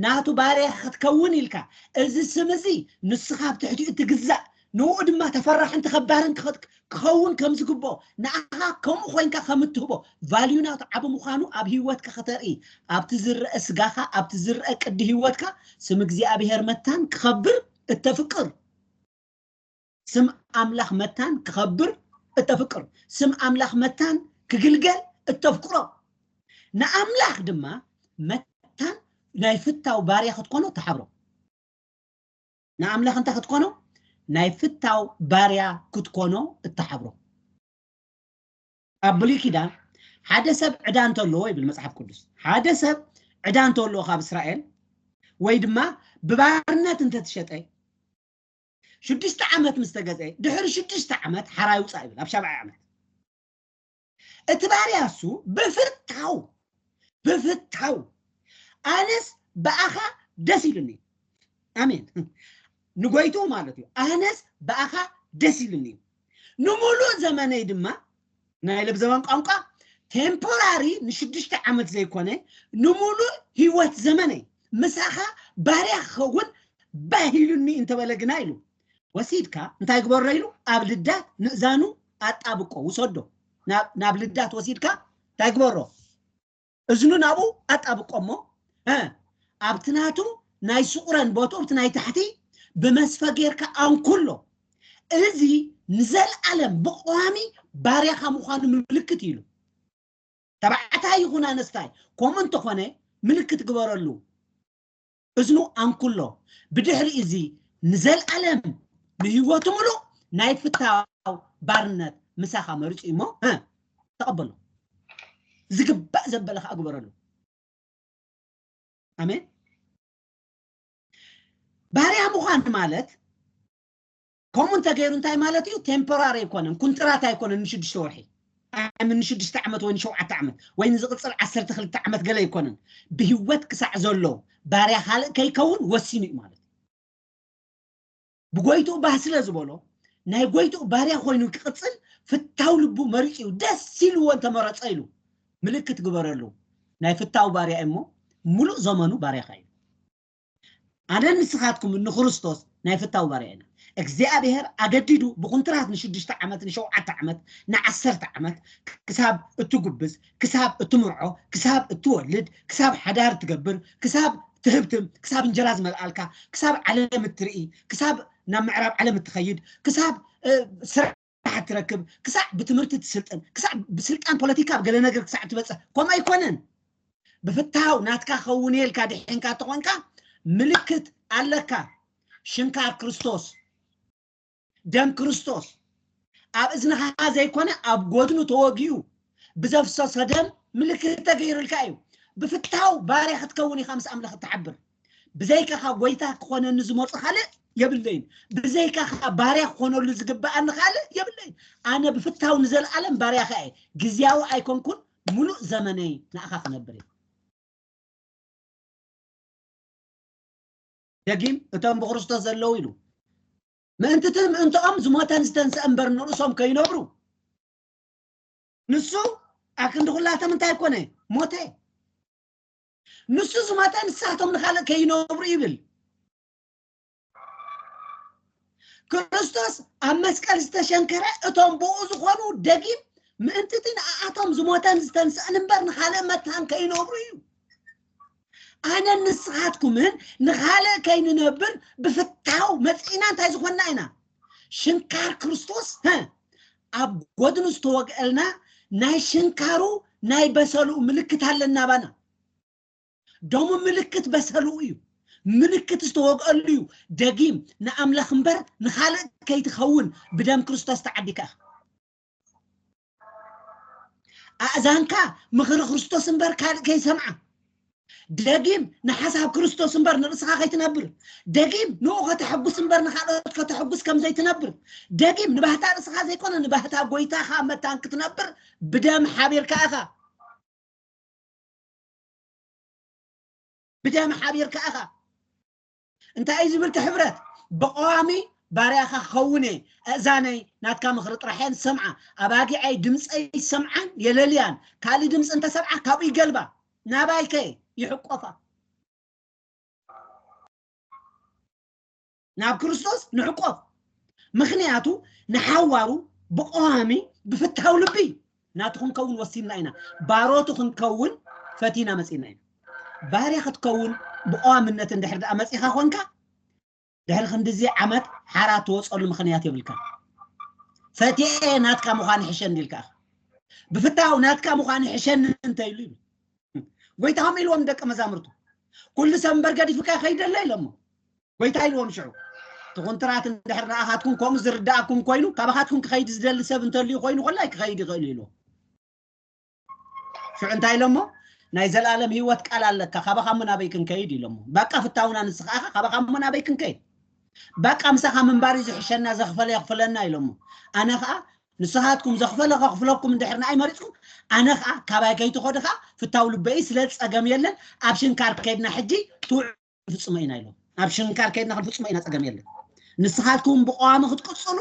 ናቱ ባርያ ክትከውን ኢልካ እዚ ስም እዚ ንስኻ ኣብ ትሕቲኡ እትግዛእ ንኡ ድማ ተፈራሕን ተኸባርን ክኸውን ከም ዝግብኦ ንኣኻ ከምኡ ኮንካ ከም እትህቦ ቫልዩ ናቱ ዓቢ ምዃኑ ኣብ ህይወትካ ከተርኢ ኣብቲ ዝረአ ስጋኻ ኣብቲ ዝረአ ቅዲ ህይወትካ ስም እግዚኣብሄር መታን ክኸብር እተፍቅር ስም ኣምላኽ መታን ክኸብር እተፍቅር ስም ኣምላኽ መታን ክግልገል እተፍቅሮ ንኣምላኽ ድማ መታን ናይ ፍታው ባርያ ክትኮኖ ተሓብሮ ንኣምላኽ እንታይ ክትኮኖ ናይ ፍታው ባርያ ክትኮኖ እተሓብሮ ኣብ ብሉይ ኪዳን ሓደ ሰብ ዕዳ እንተለዎ ይብል መፅሓፍ ቅዱስ ሓደ ሰብ ዕዳ እንተለዎ ካብ እስራኤል ወይ ድማ ብባርነት እንተትሸጠ ሽዱሽተ ዓመት ምስ ተገዝአ ድሕሪ ሽዱሽተ ዓመት ሓራይ ውፃእ ይብል ኣብ ሻብዓይ ዓመት እቲ ባርያ እሱ ብፍታው ብፍታው ኣነስ ብኣኻ ደስ ኢሉኒ ኣሜን ንጎይቱ ማለት እዩ ኣነስ ብኣኻ ደስ ኢሉኒ እዩ ንምሉእ ዘመነይ ድማ ናይ ለብዘበን ቋንቋ ቴምፖራሪ ንሽዱሽተ ዓመት ዘይኮነ ንምሉእ ህይወት ዘመነይ ምሳኻ ባርያ ክኸውን ባህ ኢሉኒ እንተበለ ግና ኢሉ ወሲድካ እንታይ ግበሮ ኢሉ ኣብ ልዳት ምእዛኑ ኣጣብቆ ውሰዶ ናብ ልዳት ወሲድካ እንታይ ግበሮ እዝኑ ናብኡ ኣጣብቆ እሞ እ ኣብቲ ናቱ ናይ ስቑረን ቦትኡ ኣብቲ ናይ ታሕቲ ብመስፈ ጌርካ ኣንኩሎ እዚ ንዘለኣለም ብቐዋሚ ባርያኻ ምዃኑ ምልክት ኢሉ ተባዕታይ ይኹን ኣነስታይ ከምኡ እንተኾነ ምልክት ግበረሉ እዝኑ ኣንኩሎ ብድሕሪ እዚ ንዘልኣለም ንህይወቱ ምሉእ ናይ ፍታው ባርነት ምሳኻ መሪጹ እዩ እሞ ተቐበሎ ዝግባእ ዘበለ ከዓ ግበረሉ ኣሜን ባርያ ምዃን ማለት ከምኡ እንተገይሩ እንታይ ማለት እዩ ቴምፖራሪ ኣይኮነን ኩንትራት ኣይኮነን ንሽዱሽተ ወርሒ ኣይ ምን ንሽዱሽተ ዓመት ወይ ንሸውዓተ ዓመት ወይ ንዝቕፅል ዓሰርተ ክልተ ዓመት ገለ ኣይኮነን ብሂወት ክሳዕ ዘሎ ባርያ ካልእ ከይከውን ወሲኑ እዩ ማለት እዩ ብጎይትኡ ባህ ስለ ዝበሎ ናይ ጎይትኡ ባርያ ኮይኑ ክቕፅል ፍታው ልቡ መሪፁ እዩ ደስ ኢልዎ እንተመረፀ ኢሉ ምልክት ግበረሉ ናይ ፍታው ባርያ እዩ እሞ ሙሉእ ዘመኑ ባርያኻ እዩ ኣነን ንስኻትኩምን ንክርስቶስ ናይ ፍታው ባርያ ኢና። እግዚኣብሄር ኣገዲዱ ብኩንትራት ንሽዱሽተ ዓመት፣ ንሸውዓተ ዓመት፣ ንዓሰርተ ዓመት፣ ክሳብ እትጉብዝ፣ ክሳብ እትምርዖ፣ ክሳብ እትወልድ፣ ክሳብ ሓዳር እትገብር፣ ክሳብ ትህብትም፣ ክሳብ እንጀራ ዝመልኣልካ፣ ክሳብ ዓለም እትርኢ፣ ክሳብ ናብ ምዕራብ ዓለም እትኸይድ፣ ክሳብ ስራሕ ስራሕ እትረክብ ክሳዕ ብትምህርቲ እትስልጥን ክሳዕ ብስልጣን ፖለቲካ ኣብ ገለ ነገር ክሳዕ እትበጽሕ ከምኡ ኣይኮነን ብፍትሃው ናትካ ከውን እየ ኢልካ ድሒንካ እተኾንካ ምልክት ኣለካ ሽንካር ክርስቶስ ደም ክርስቶስ ኣብ እዝንኻ ዘይኮነ ኣብ ጎድኑ ተወጊኡ ብዘፍሰሰ ደም ምልክት ተገይሩልካ እዩ ብፍትሃው ባርያ ክትከውን ኢኻ ምስ ኣምላኽ እትሓብር ብዘይካኻ ጎይታ ክኾነኒ ዝመፁ ካልእ የብለይን ብዘይካኻ ባርያ ክኾነሉ ዝግብኣኒ ካልእ የብለይን ኣነ ብፍታው ንዘለኣለም ባርያኻ እየ ግዜያዊ ኣይኮንኩን ሙሉእ ዘመነይ ንኣኻ ክነብር እየ ደጊም እቶም ብክርስቶስ ዘለዉ ኢሉ ምእንቲ እቲ ምእንትኦም ዝሞተን ዝተንስአ እምበር ንርእሶም ከይነብሩ ንሱ ኣብ ክንዲ ኩላቶም እንታይ ኮነ ሞተ ንሱ ዝሞተ ንሳቶም ንኻልእ ከይነብሩ ይብል ክርስቶስ ኣብ መስቀል ዝተሸንከረ እቶም ብኡ ዝኾኑ ደጊም ምእንትቲ ንኣኣቶም ዝሞተን ዝተንስእን እምበር ንኻልእ መታን ከይነብሩ እዩ ኣነን ንስኻትኩምን ንኻልእ ከይንነብር ብፍታው መፅኢና እንታይ ዝኾንና ኢና ሽንካር ክርስቶስ ሀ ኣብ ጎድኑ ዝተወግአልና ናይ ሽንካሩ ናይ በሰሉ ምልክት ኣለና ባና ደሙ ምልክት በሰሉ እዩ ምልክት ዝተወግአሉ እዩ ደጊም ንኣምላኽ እምበር ንኻልእ ከይትኸውን ብደም ክርስቶስ ተዓዲካ ኣእዛንካ ምኽሪ ክርስቶስ እምበር ካልእ ከይሰምዓ ደጊም ንሓሳብ ክርስቶስ እምበር ንርእስኻ ከይትነብር ደጊም ንኡ ከተሐጉስ እምበር ንካልኦት ከተሐጉስ ከም ዘይትነብር ደጊም ንባህታ ርእስኻ ዘይኮነ ንባህታ ጎይታኻ መታን ክትነብር ብደም ሓቢርካ ኢኻ ብደም ሓቢርካ ኢኻ እንታይ እዩ ዝብል እቲ ሕብረት? ብቐዋሚ ባርያኻ ክኸውን እየ፣ ኣእዛነይ ናትካ ምኽሪ ጥራሕ እየን ዝሰምዓ፣ ኣባጊዐይ ድምጸይ ይሰምዓን የለልያን፣ ካልእ ድምጺ እንተ ሰምዓ ካብኡ ይገልባ፣ ናባይ ከ ይሕቈፋ። ናብ ክርስቶስ ንሕቈፍ፣ ምኽንያቱ ንሓዋሩ ብቐዋሚ ብፍትሓዊ ልቢ ናቱ ክንከውን ወሲንና ኢና፣ ባሮቱ ክንከውን ፈቲና መጺእና ኢና። ባርያ ክትከውን ብቐዋምነት እንድሕር ደኣ መጺኻ ኾንካ፣ ድሕሪ ክንድዚ ዓመት ሓራ ትወጸሉ ምኽንያት የብልካን። ፈትየ ናትካ ምዃን ይሕሸኒ ኢልካ ኢኻ። ብፍታው ናትካ ምዃን ይሕሸኒ እንተ ኢሉ ይብል ጎይታ ከምኡ ኢልዎም ደቀ መዛሙርቱ ኩሉ ሰብ እምበር ገዲፉካ ይኸይደለ ኢሎሞ ጐይታ ኢልዎም ሽዑ፣ እቲ ኹንትራት እንድሕር ንኣኻትኩም ከምኡ ዝርድኣኩም ኮይኑ፣ ካባኻትኩም ክኸይድ ዝደሊ ሰብ እንተልዩ ኮይኑ ዀላይ ክኸይድ ይኽእል እዩ ኢልዎም። ሽዑ እንታይ ኢሎሞ? ናይ ዘለኣለም ህይወት ቃል ኣለካ፣ ካባኻ እሞ ናበይ ክንከይድ? ኢሎሞ። ባቃ ፍታውና ንስኻ ኢኻ፣ ካባኻ እሞ ናበይ ክንከይድ? ባቃ ምሳኻ ምንባር እዩ ዝሕሸና፣ ዘኽፈለ የኽፍለና ኢሎሞ። ኣነ ኸኣ ንስኻትኩም ዘኽፈለ ከኽፍለኩም እንድሕር ንኣይ መሪጽኩም፣ ኣነ ኸኣ ካባይ ከይትኸዱ ኸኣ ፍታው ልበ እዩ፣ ስለዚ ጸገም የለን፣ ኣብ ሽንካር ከይድና ሕጂ ትውዕ ክንፍፅሞ ኢና ኢሎም ናብ ሽንካር ከይድና ክንፍፅሞ ኢና ፀገም የለን ንስኻትኩም ብቀዋሚ ክትቅፅሉ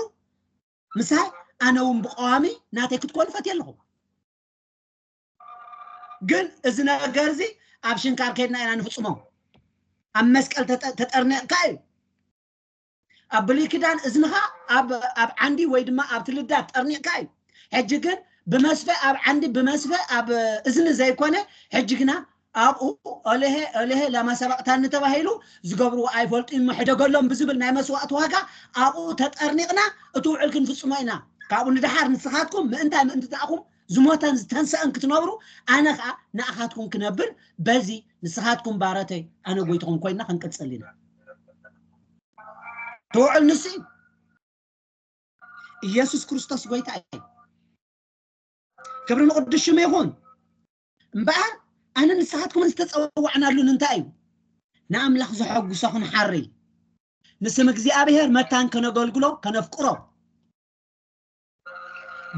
ምሳይ ኣነ እውን ብቀዋሚ ናተይ ክትኮኑ ፈትየ ኣለኹ ግን እዚ ነገር እዚ ኣብ ሽንካር ከይድና ኢና ንፍፅሞ ኣብ መስቀል ተጠርኒቕካ እዩ ኣብ ብሉይ ኪዳን እዝንኻ ኣብ ኣብ ዓንዲ ወይ ድማ ኣብቲ ልዳት ጠርኒቕካ እዩ ሕጂ ግን ብመስፈ ኣብ ዓንዲ ብመስፈ ኣብ እዝኒ ዘይኮነ ሕጂ ግና ኣብኡ ኦለሄ ኦለሄ ላማ ሰበቕታኒ ተባሂሉ ዝገብርዎ ኣይፈልጡ እሞ ሕደገሎም ብዝብል ናይ መስዋእቲ ዋጋ ኣብኡ ተጠርኒቕና እቲ ውዕል ክንፍጽሞ ኢና ካብኡ ንደሓር ንስኻትኩም ምእንታይ ምእንቲ ተኣኹም ዝሞተን ዝተንሰአን ክትነብሩ ኣነ ከዓ ንኣኻትኩም ክነብር በዚ ንስኻትኩም ባረተይ ኣነ ጎይትኹም ኮይና ክንቅጽል ኢና ድውዕል ንሱ እዩ ኢየሱስ ክርስቶስ ጎይታ እዩ ክብሪ ንቅዱስ ሽሙ ይኹን እምበኣር ኣነ ንስኻትኩም ዝተፀዋዕናሉ እንታይ እዩ ንኣምላኽ ዘሐጉሶ ክንሓሪ ንስም እግዚኣብሔር መታን ከነገልግሎ ከነፍቅሮ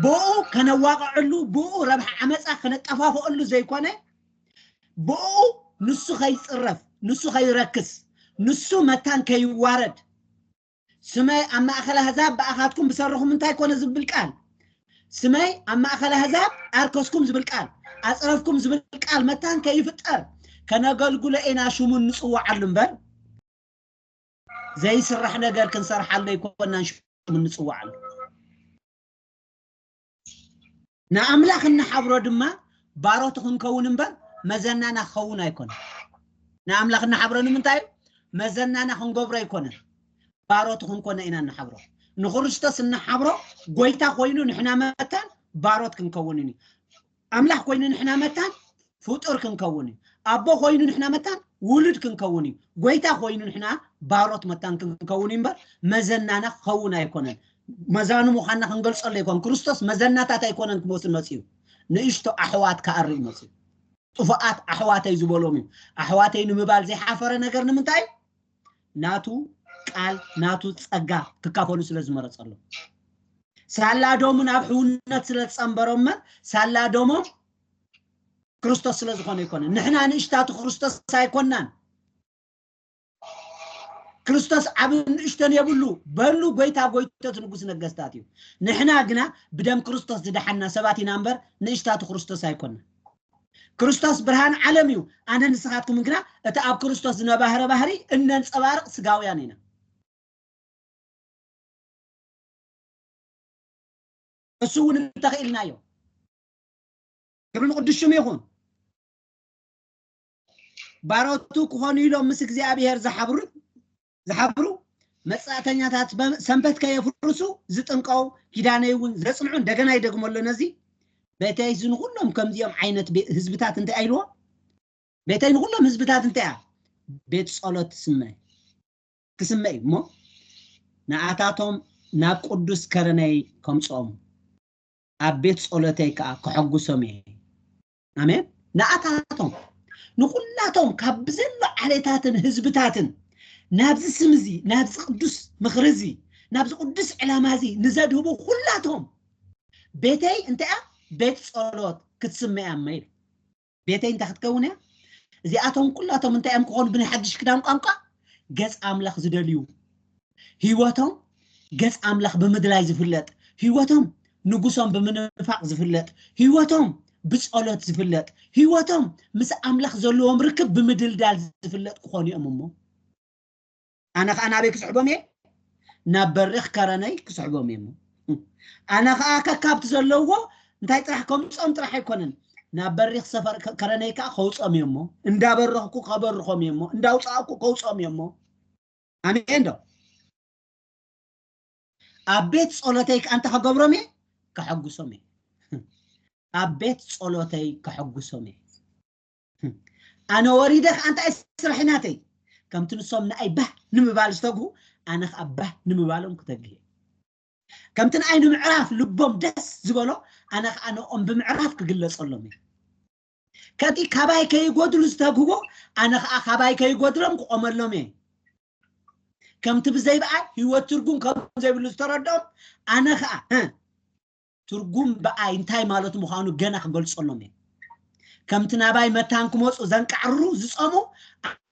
ብኡ ከነዋቕዐሉ ብኡ ረብሓ ዓመፃ ከነጠፋፍኣሉ ዘይኮነ ብኡ ንሱ ከይፅረፍ ንሱ ከይረክስ ንሱ መታን ከይዋረድ ስመይ ኣብ ማእኸል ኣህዛብ ብኣኻትኩም ብሰርኹም እንታይ ኮነ ዝብል ቃል ስመይ ኣብ ማእኸል ኣህዛብ ኣርከስኩም ዝብል ቃል ኣፅረፍኩም ዝብል ቃል መታን ከይፍጠር ከነገልግሎ ኢና ሽሙ እንፅዋዓሉ እምበር ዘይስራሕ ነገር ክንሰርሓሉ ኣይኮናን ሽሙ እንፅዋዓሉ ንኣምላኽ እናሓብሮ ድማ ባሮቱ ክንከውን እምበር መዘናና ክኸውን ኣይኮነን ንኣምላኽ እናሓብሮ ንምንታይ እዩ መዘናና ክንገብሮ ኣይኮነን ባሮቱ ክንኮነ ኢና እናሓብሮ ንክርስቶስ እናሓብሮ ጎይታ ኮይኑ ንሕና መታን ባሮት ክንከውን እዩ ኣምላኽ ኮይኑ ንሕና መታን ፍጡር ክንከውን እዩ። ኣቦ ኮይኑ ንሕና መታን ውሉድ ክንከውን እዩ። ጎይታ ኮይኑ ንሕና ባሮት መታን ክንከውን እዩ እምበር መዘናና ክኸውን ኣይኮነን። መዛኑ ምዃንና ክንገልጸሉ ኣይኮን። ክርስቶስ መዘናታት ኣይኮነን ክመስል መጺኡ። ንእሽቶ ኣሕዋት ክኣርይ መጺኡ። ጥፉኣት ኣሕዋተይ ዝበሎም እዩ። ኣሕዋተይ ንምባል ዘይሓፈረ ነገር ንምንታይ እዩ? ናቱ ቃል ናቱ ጸጋ ክካፈሉ ስለ ዝመረጸሎም ሳላ ዶሙ ናብ ሕውነት ስለ ዝጸንበሮመ ሳላ ዶሞም ክርስቶስ ስለ ዝኾነ ይኮነ ንሕና ንእሽታቱ ክርስቶስ ኣይኮናን ክርስቶስ ዓብ ንእሽተን የብሉ በሉ ጎይታ ጎይቶት ንጉስ ነገስታት እዩ ንሕና ግና ብደም ክርስቶስ ዝደሓና ሰባት ኢና እምበር ንእሽታቱ ክርስቶስ ኣይኮና ክርስቶስ ብርሃን ዓለም እዩ፣ ኣነ ንስኻትኩምን ግና እቲ ኣብ ክርስቶስ ዝነባህረ ባህሪ እነንጸባርቕ ስጋውያን ኢና። እሱ እውን እንተኽኢልናዮ ክብሪ ንቅዱስ ሽሙ ይኹን ባሮቱ ክኾኑ ኢሎም ምስ እግዚኣብሔር ዝሓብሩን ዝሓብሩ መጻእተኛታት ሰንበት ከየፍርሱ ዝጥንቀው ኪዳነይ እውን ዘጽንዑ እንደገና ይደግሞ ኣሎ ነዚ ቤተይ ንኩሎም ከምዚኦም ዓይነት ህዝብታት እንታይ ኣይልዎ ቤተይ ንኩሎም ህዝብታት እንታይ እያ ቤት ጸሎት ትስመ ክስመ እዩ እሞ ንኣታቶም ናብ ቅዱስ ከረነይ ከምጽኦም ኣብ ቤት ጸሎተይ ከዓ ከሐጉሶም እየ ኣሜን ንኣታቶም ንኹላቶም ካብ ብዘሎ ዓሌታትን ህዝብታትን ናብዚ ስም እዚ ናብዚ ቅዱስ ምኽሪ እዚ ናብዚ ቅዱስ ዕላማ እዚ ንዘድህቡ ኩላቶም ቤተይ እንታይ እያ ቤት ጸሎት ክትስመ እያ እመ ኢሉ ቤተይ እንታይ ክትከውን እያ እዚኣቶም ኩላቶም እንታይ እዮም ክኾኑ ብናይ ሓድሽ ክዳን ቋንቋ ገጽ ኣምላኽ ዝደልዩ ህይወቶም ገጽ ኣምላኽ ብምድላይ ዝፍለጥ ህይወቶም ንጉሶም ብምንፋቕ ዝፍለጥ ህይወቶም ብጸሎት ዝፍለጥ ህይወቶም ምስ ኣምላኽ ዘለዎም ርክብ ብምድልዳል ዝፍለጥ ክኾኑ እዮም እሞ ኣነ ከዓ ናበይ ክስሕቦም እየ ናብ በሪኽ ከረነይ ክስሕቦም እየ እሞ ኣነ ከዓ ከካብቲ ዘለዎ እንታይ ጥራሕ ከምፆም ጥራሕ ኣይኮነን ናብ በሪኽ ሰፈር ከረነይ ከዓ ከውፆም እየ እሞ እንዳበረኽኩ ከበርኾም እየ እሞ እንዳውፃእኩ ከውፆም እየ እሞ ኣሜን ዶ ኣብ ቤት ጸሎተይ ከ ኣንተ ከገብሮም እየ ከሐጉሶም እየ ኣብ ቤት ጸሎተይ ከሐጉሶም እየ ኣነ ወሪደ ከ ኣንተ ኣይ ስራሒ ናተይ ከምቲ ንሶም ንኣይ ባህ ንምባል ዝተግሁ ኣነ ከ ኣብ ባህ ንምባሎም ክተግህ እየ ከምቲ ንኣይ ንምዕራፍ ልቦም ደስ ዝበሎ ኣነ ከ ኣነኦም ብምዕራፍ ክግለጸሎም እየ ከቲ ካባይ ከይጎድሉ ዝተግህቦ ኣነ ከዓ ካባይ ከይጎድሎም ክቆመሎም እየ ከምቲ ብዘይ በኣል ህይወት ትርጉም ከም ዘይብሉ ዝተረድኦም ኣነ ከዓ እ፣ ትርጉም በኣይ እንታይ ማለት ምዃኑ ገና ክገልጸሎም እየ ከምቲ ናባይ መታን ክመፁ ዘንቃዕርሩ ዝፀሙ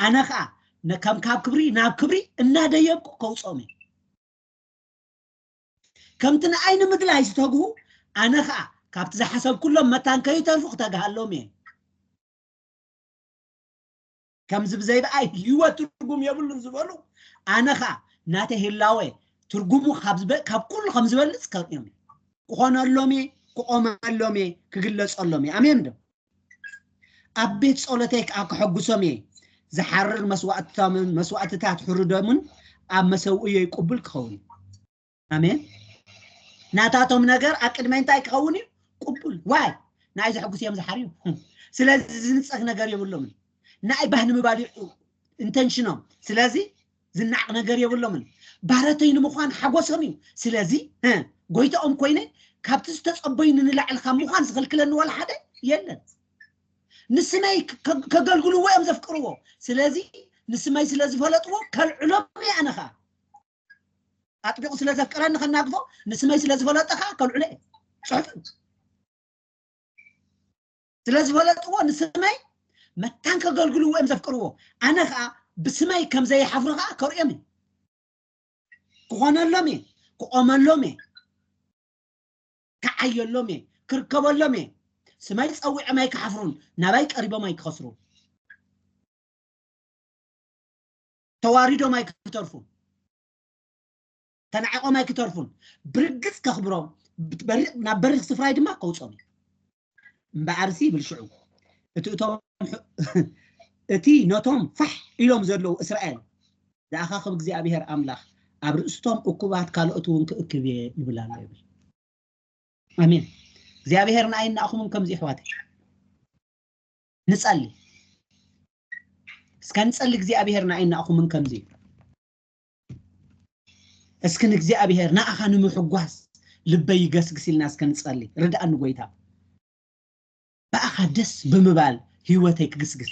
ኣነ ከዓ ነ- ከም ካብ ክብሪ ናብ ክብሪ እናደየብኩ ከውፅኦም እየ ከምቲ ንኣይ ንምግላይ ዝተግሁ ኣነ ኸኣ ካብቲ ዝሓሰብኩሎም መታን ከይተርፉ ክተግሃሎም እየ ከምዚ ብዘይብኣይ ህይወት ትርጉም የብሉን ዝበሉ ኣነ ኸኣ ናተይ ህላወ ትርጉሙ ካብ ኩሉ ከም ዝበልፅ ከርእዮም እየ ክኾነሎም እየ ክቆመሎም እየ ክግለፀሎም እየ ኣሜን ዶ ኣብ ቤት ጸሎተይ ከኣ ከሐጉሶም እየ፣ ዝሓርር መስዋእቶምን መስዋእትታት ሕሩ ደሙን ኣብ መሰውእዮይ ቅቡል ክኸውን እዩ። ኣሜን። ናታቶም ነገር ኣብ ቅድመይ እንታይ ክኸውን እዩ? ቅቡል። ዋይ ንኣይ ዘሐጉስ እዮም ዝሓርዩ። ስለዚ ዝንጸግ ነገር የብሎምን። ንኣይ ባህ ንምባል እዩ ኢንተንሽኖም። ስለዚ ዝናቅ ነገር የብሎምን ባረተይ ንምዃን ሓጎሶም እዩ ስለዚ ጎይታኦም ኮይነ ካብቲ ዝተጸበዩኒ ንላዕሊ ካብ ምዃን ዝኽልክለኒ ዋላ ሓደ የለን ንስመይ ከገልግልዎ እዮም ዘፍቅርዎ ስለዚ ንስመይ ስለ ዝፈለጥዎ ከልዕሎም እየ ኣነ ከዓ ኣጥቢቑ ስለ ዘፍቅረኒ ከናግፎ ንስመይ ስለ ዝፈለጠ ከዓ ከልዕሎ እየ ጽሑፍ ስለ ዝፈለጥዎ ንስመይ መታን ከገልግልዎ እዮም ዘፍቅርዎ ኣነ ከዓ ብስመይ ከም ዘይሓፍሩ ከዓ ከርእዮም እዩ ክኾነሎም እየ ክቆመሎም እየ ክዓየሎም እየ ክርከበሎም እየ ስመይ ፀዊዖም ኣይክሓፍሩን ናባይ ቀሪቦም ኣይክኸስሩን ተዋሪዶም ኣይክተርፉን ተናዒቖም ኣይክተርፉን ብርግጽ ከኽብሮም ናብ በሪኽ ስፍራይ ድማ ከውጾም እዩ እምበኣርሲ ይብል ሽዑ እቲ እቶም እቲ ነቶም ፋሕ ኢሎም ዘለዉ እስራኤል ዝኣኻኽብ እግዚኣብሄር ኣምላኽ ኣብ ርእስቶም እኩባት ካልኦት እውን ክእክብ እየ ይብል ኣሎ ይብል ኣሜን እግዚኣብሄር ንኣይ ንኣኹምን ከምዚ ይሕዋት ንጸሊ እስከ ንጸሊ እግዚኣብሄር ንኣይ ንኣኹምን ከምዚ እዩ እስኪ ንእግዚኣብሔር ንኣኻ ንምሕጓስ ልበይ ይገስግስ ኢልና እስከ ንጸሊ ርድኣኒ ጎይታ ብኣኻ ደስ ብምባል ህይወተይ ክግስግስ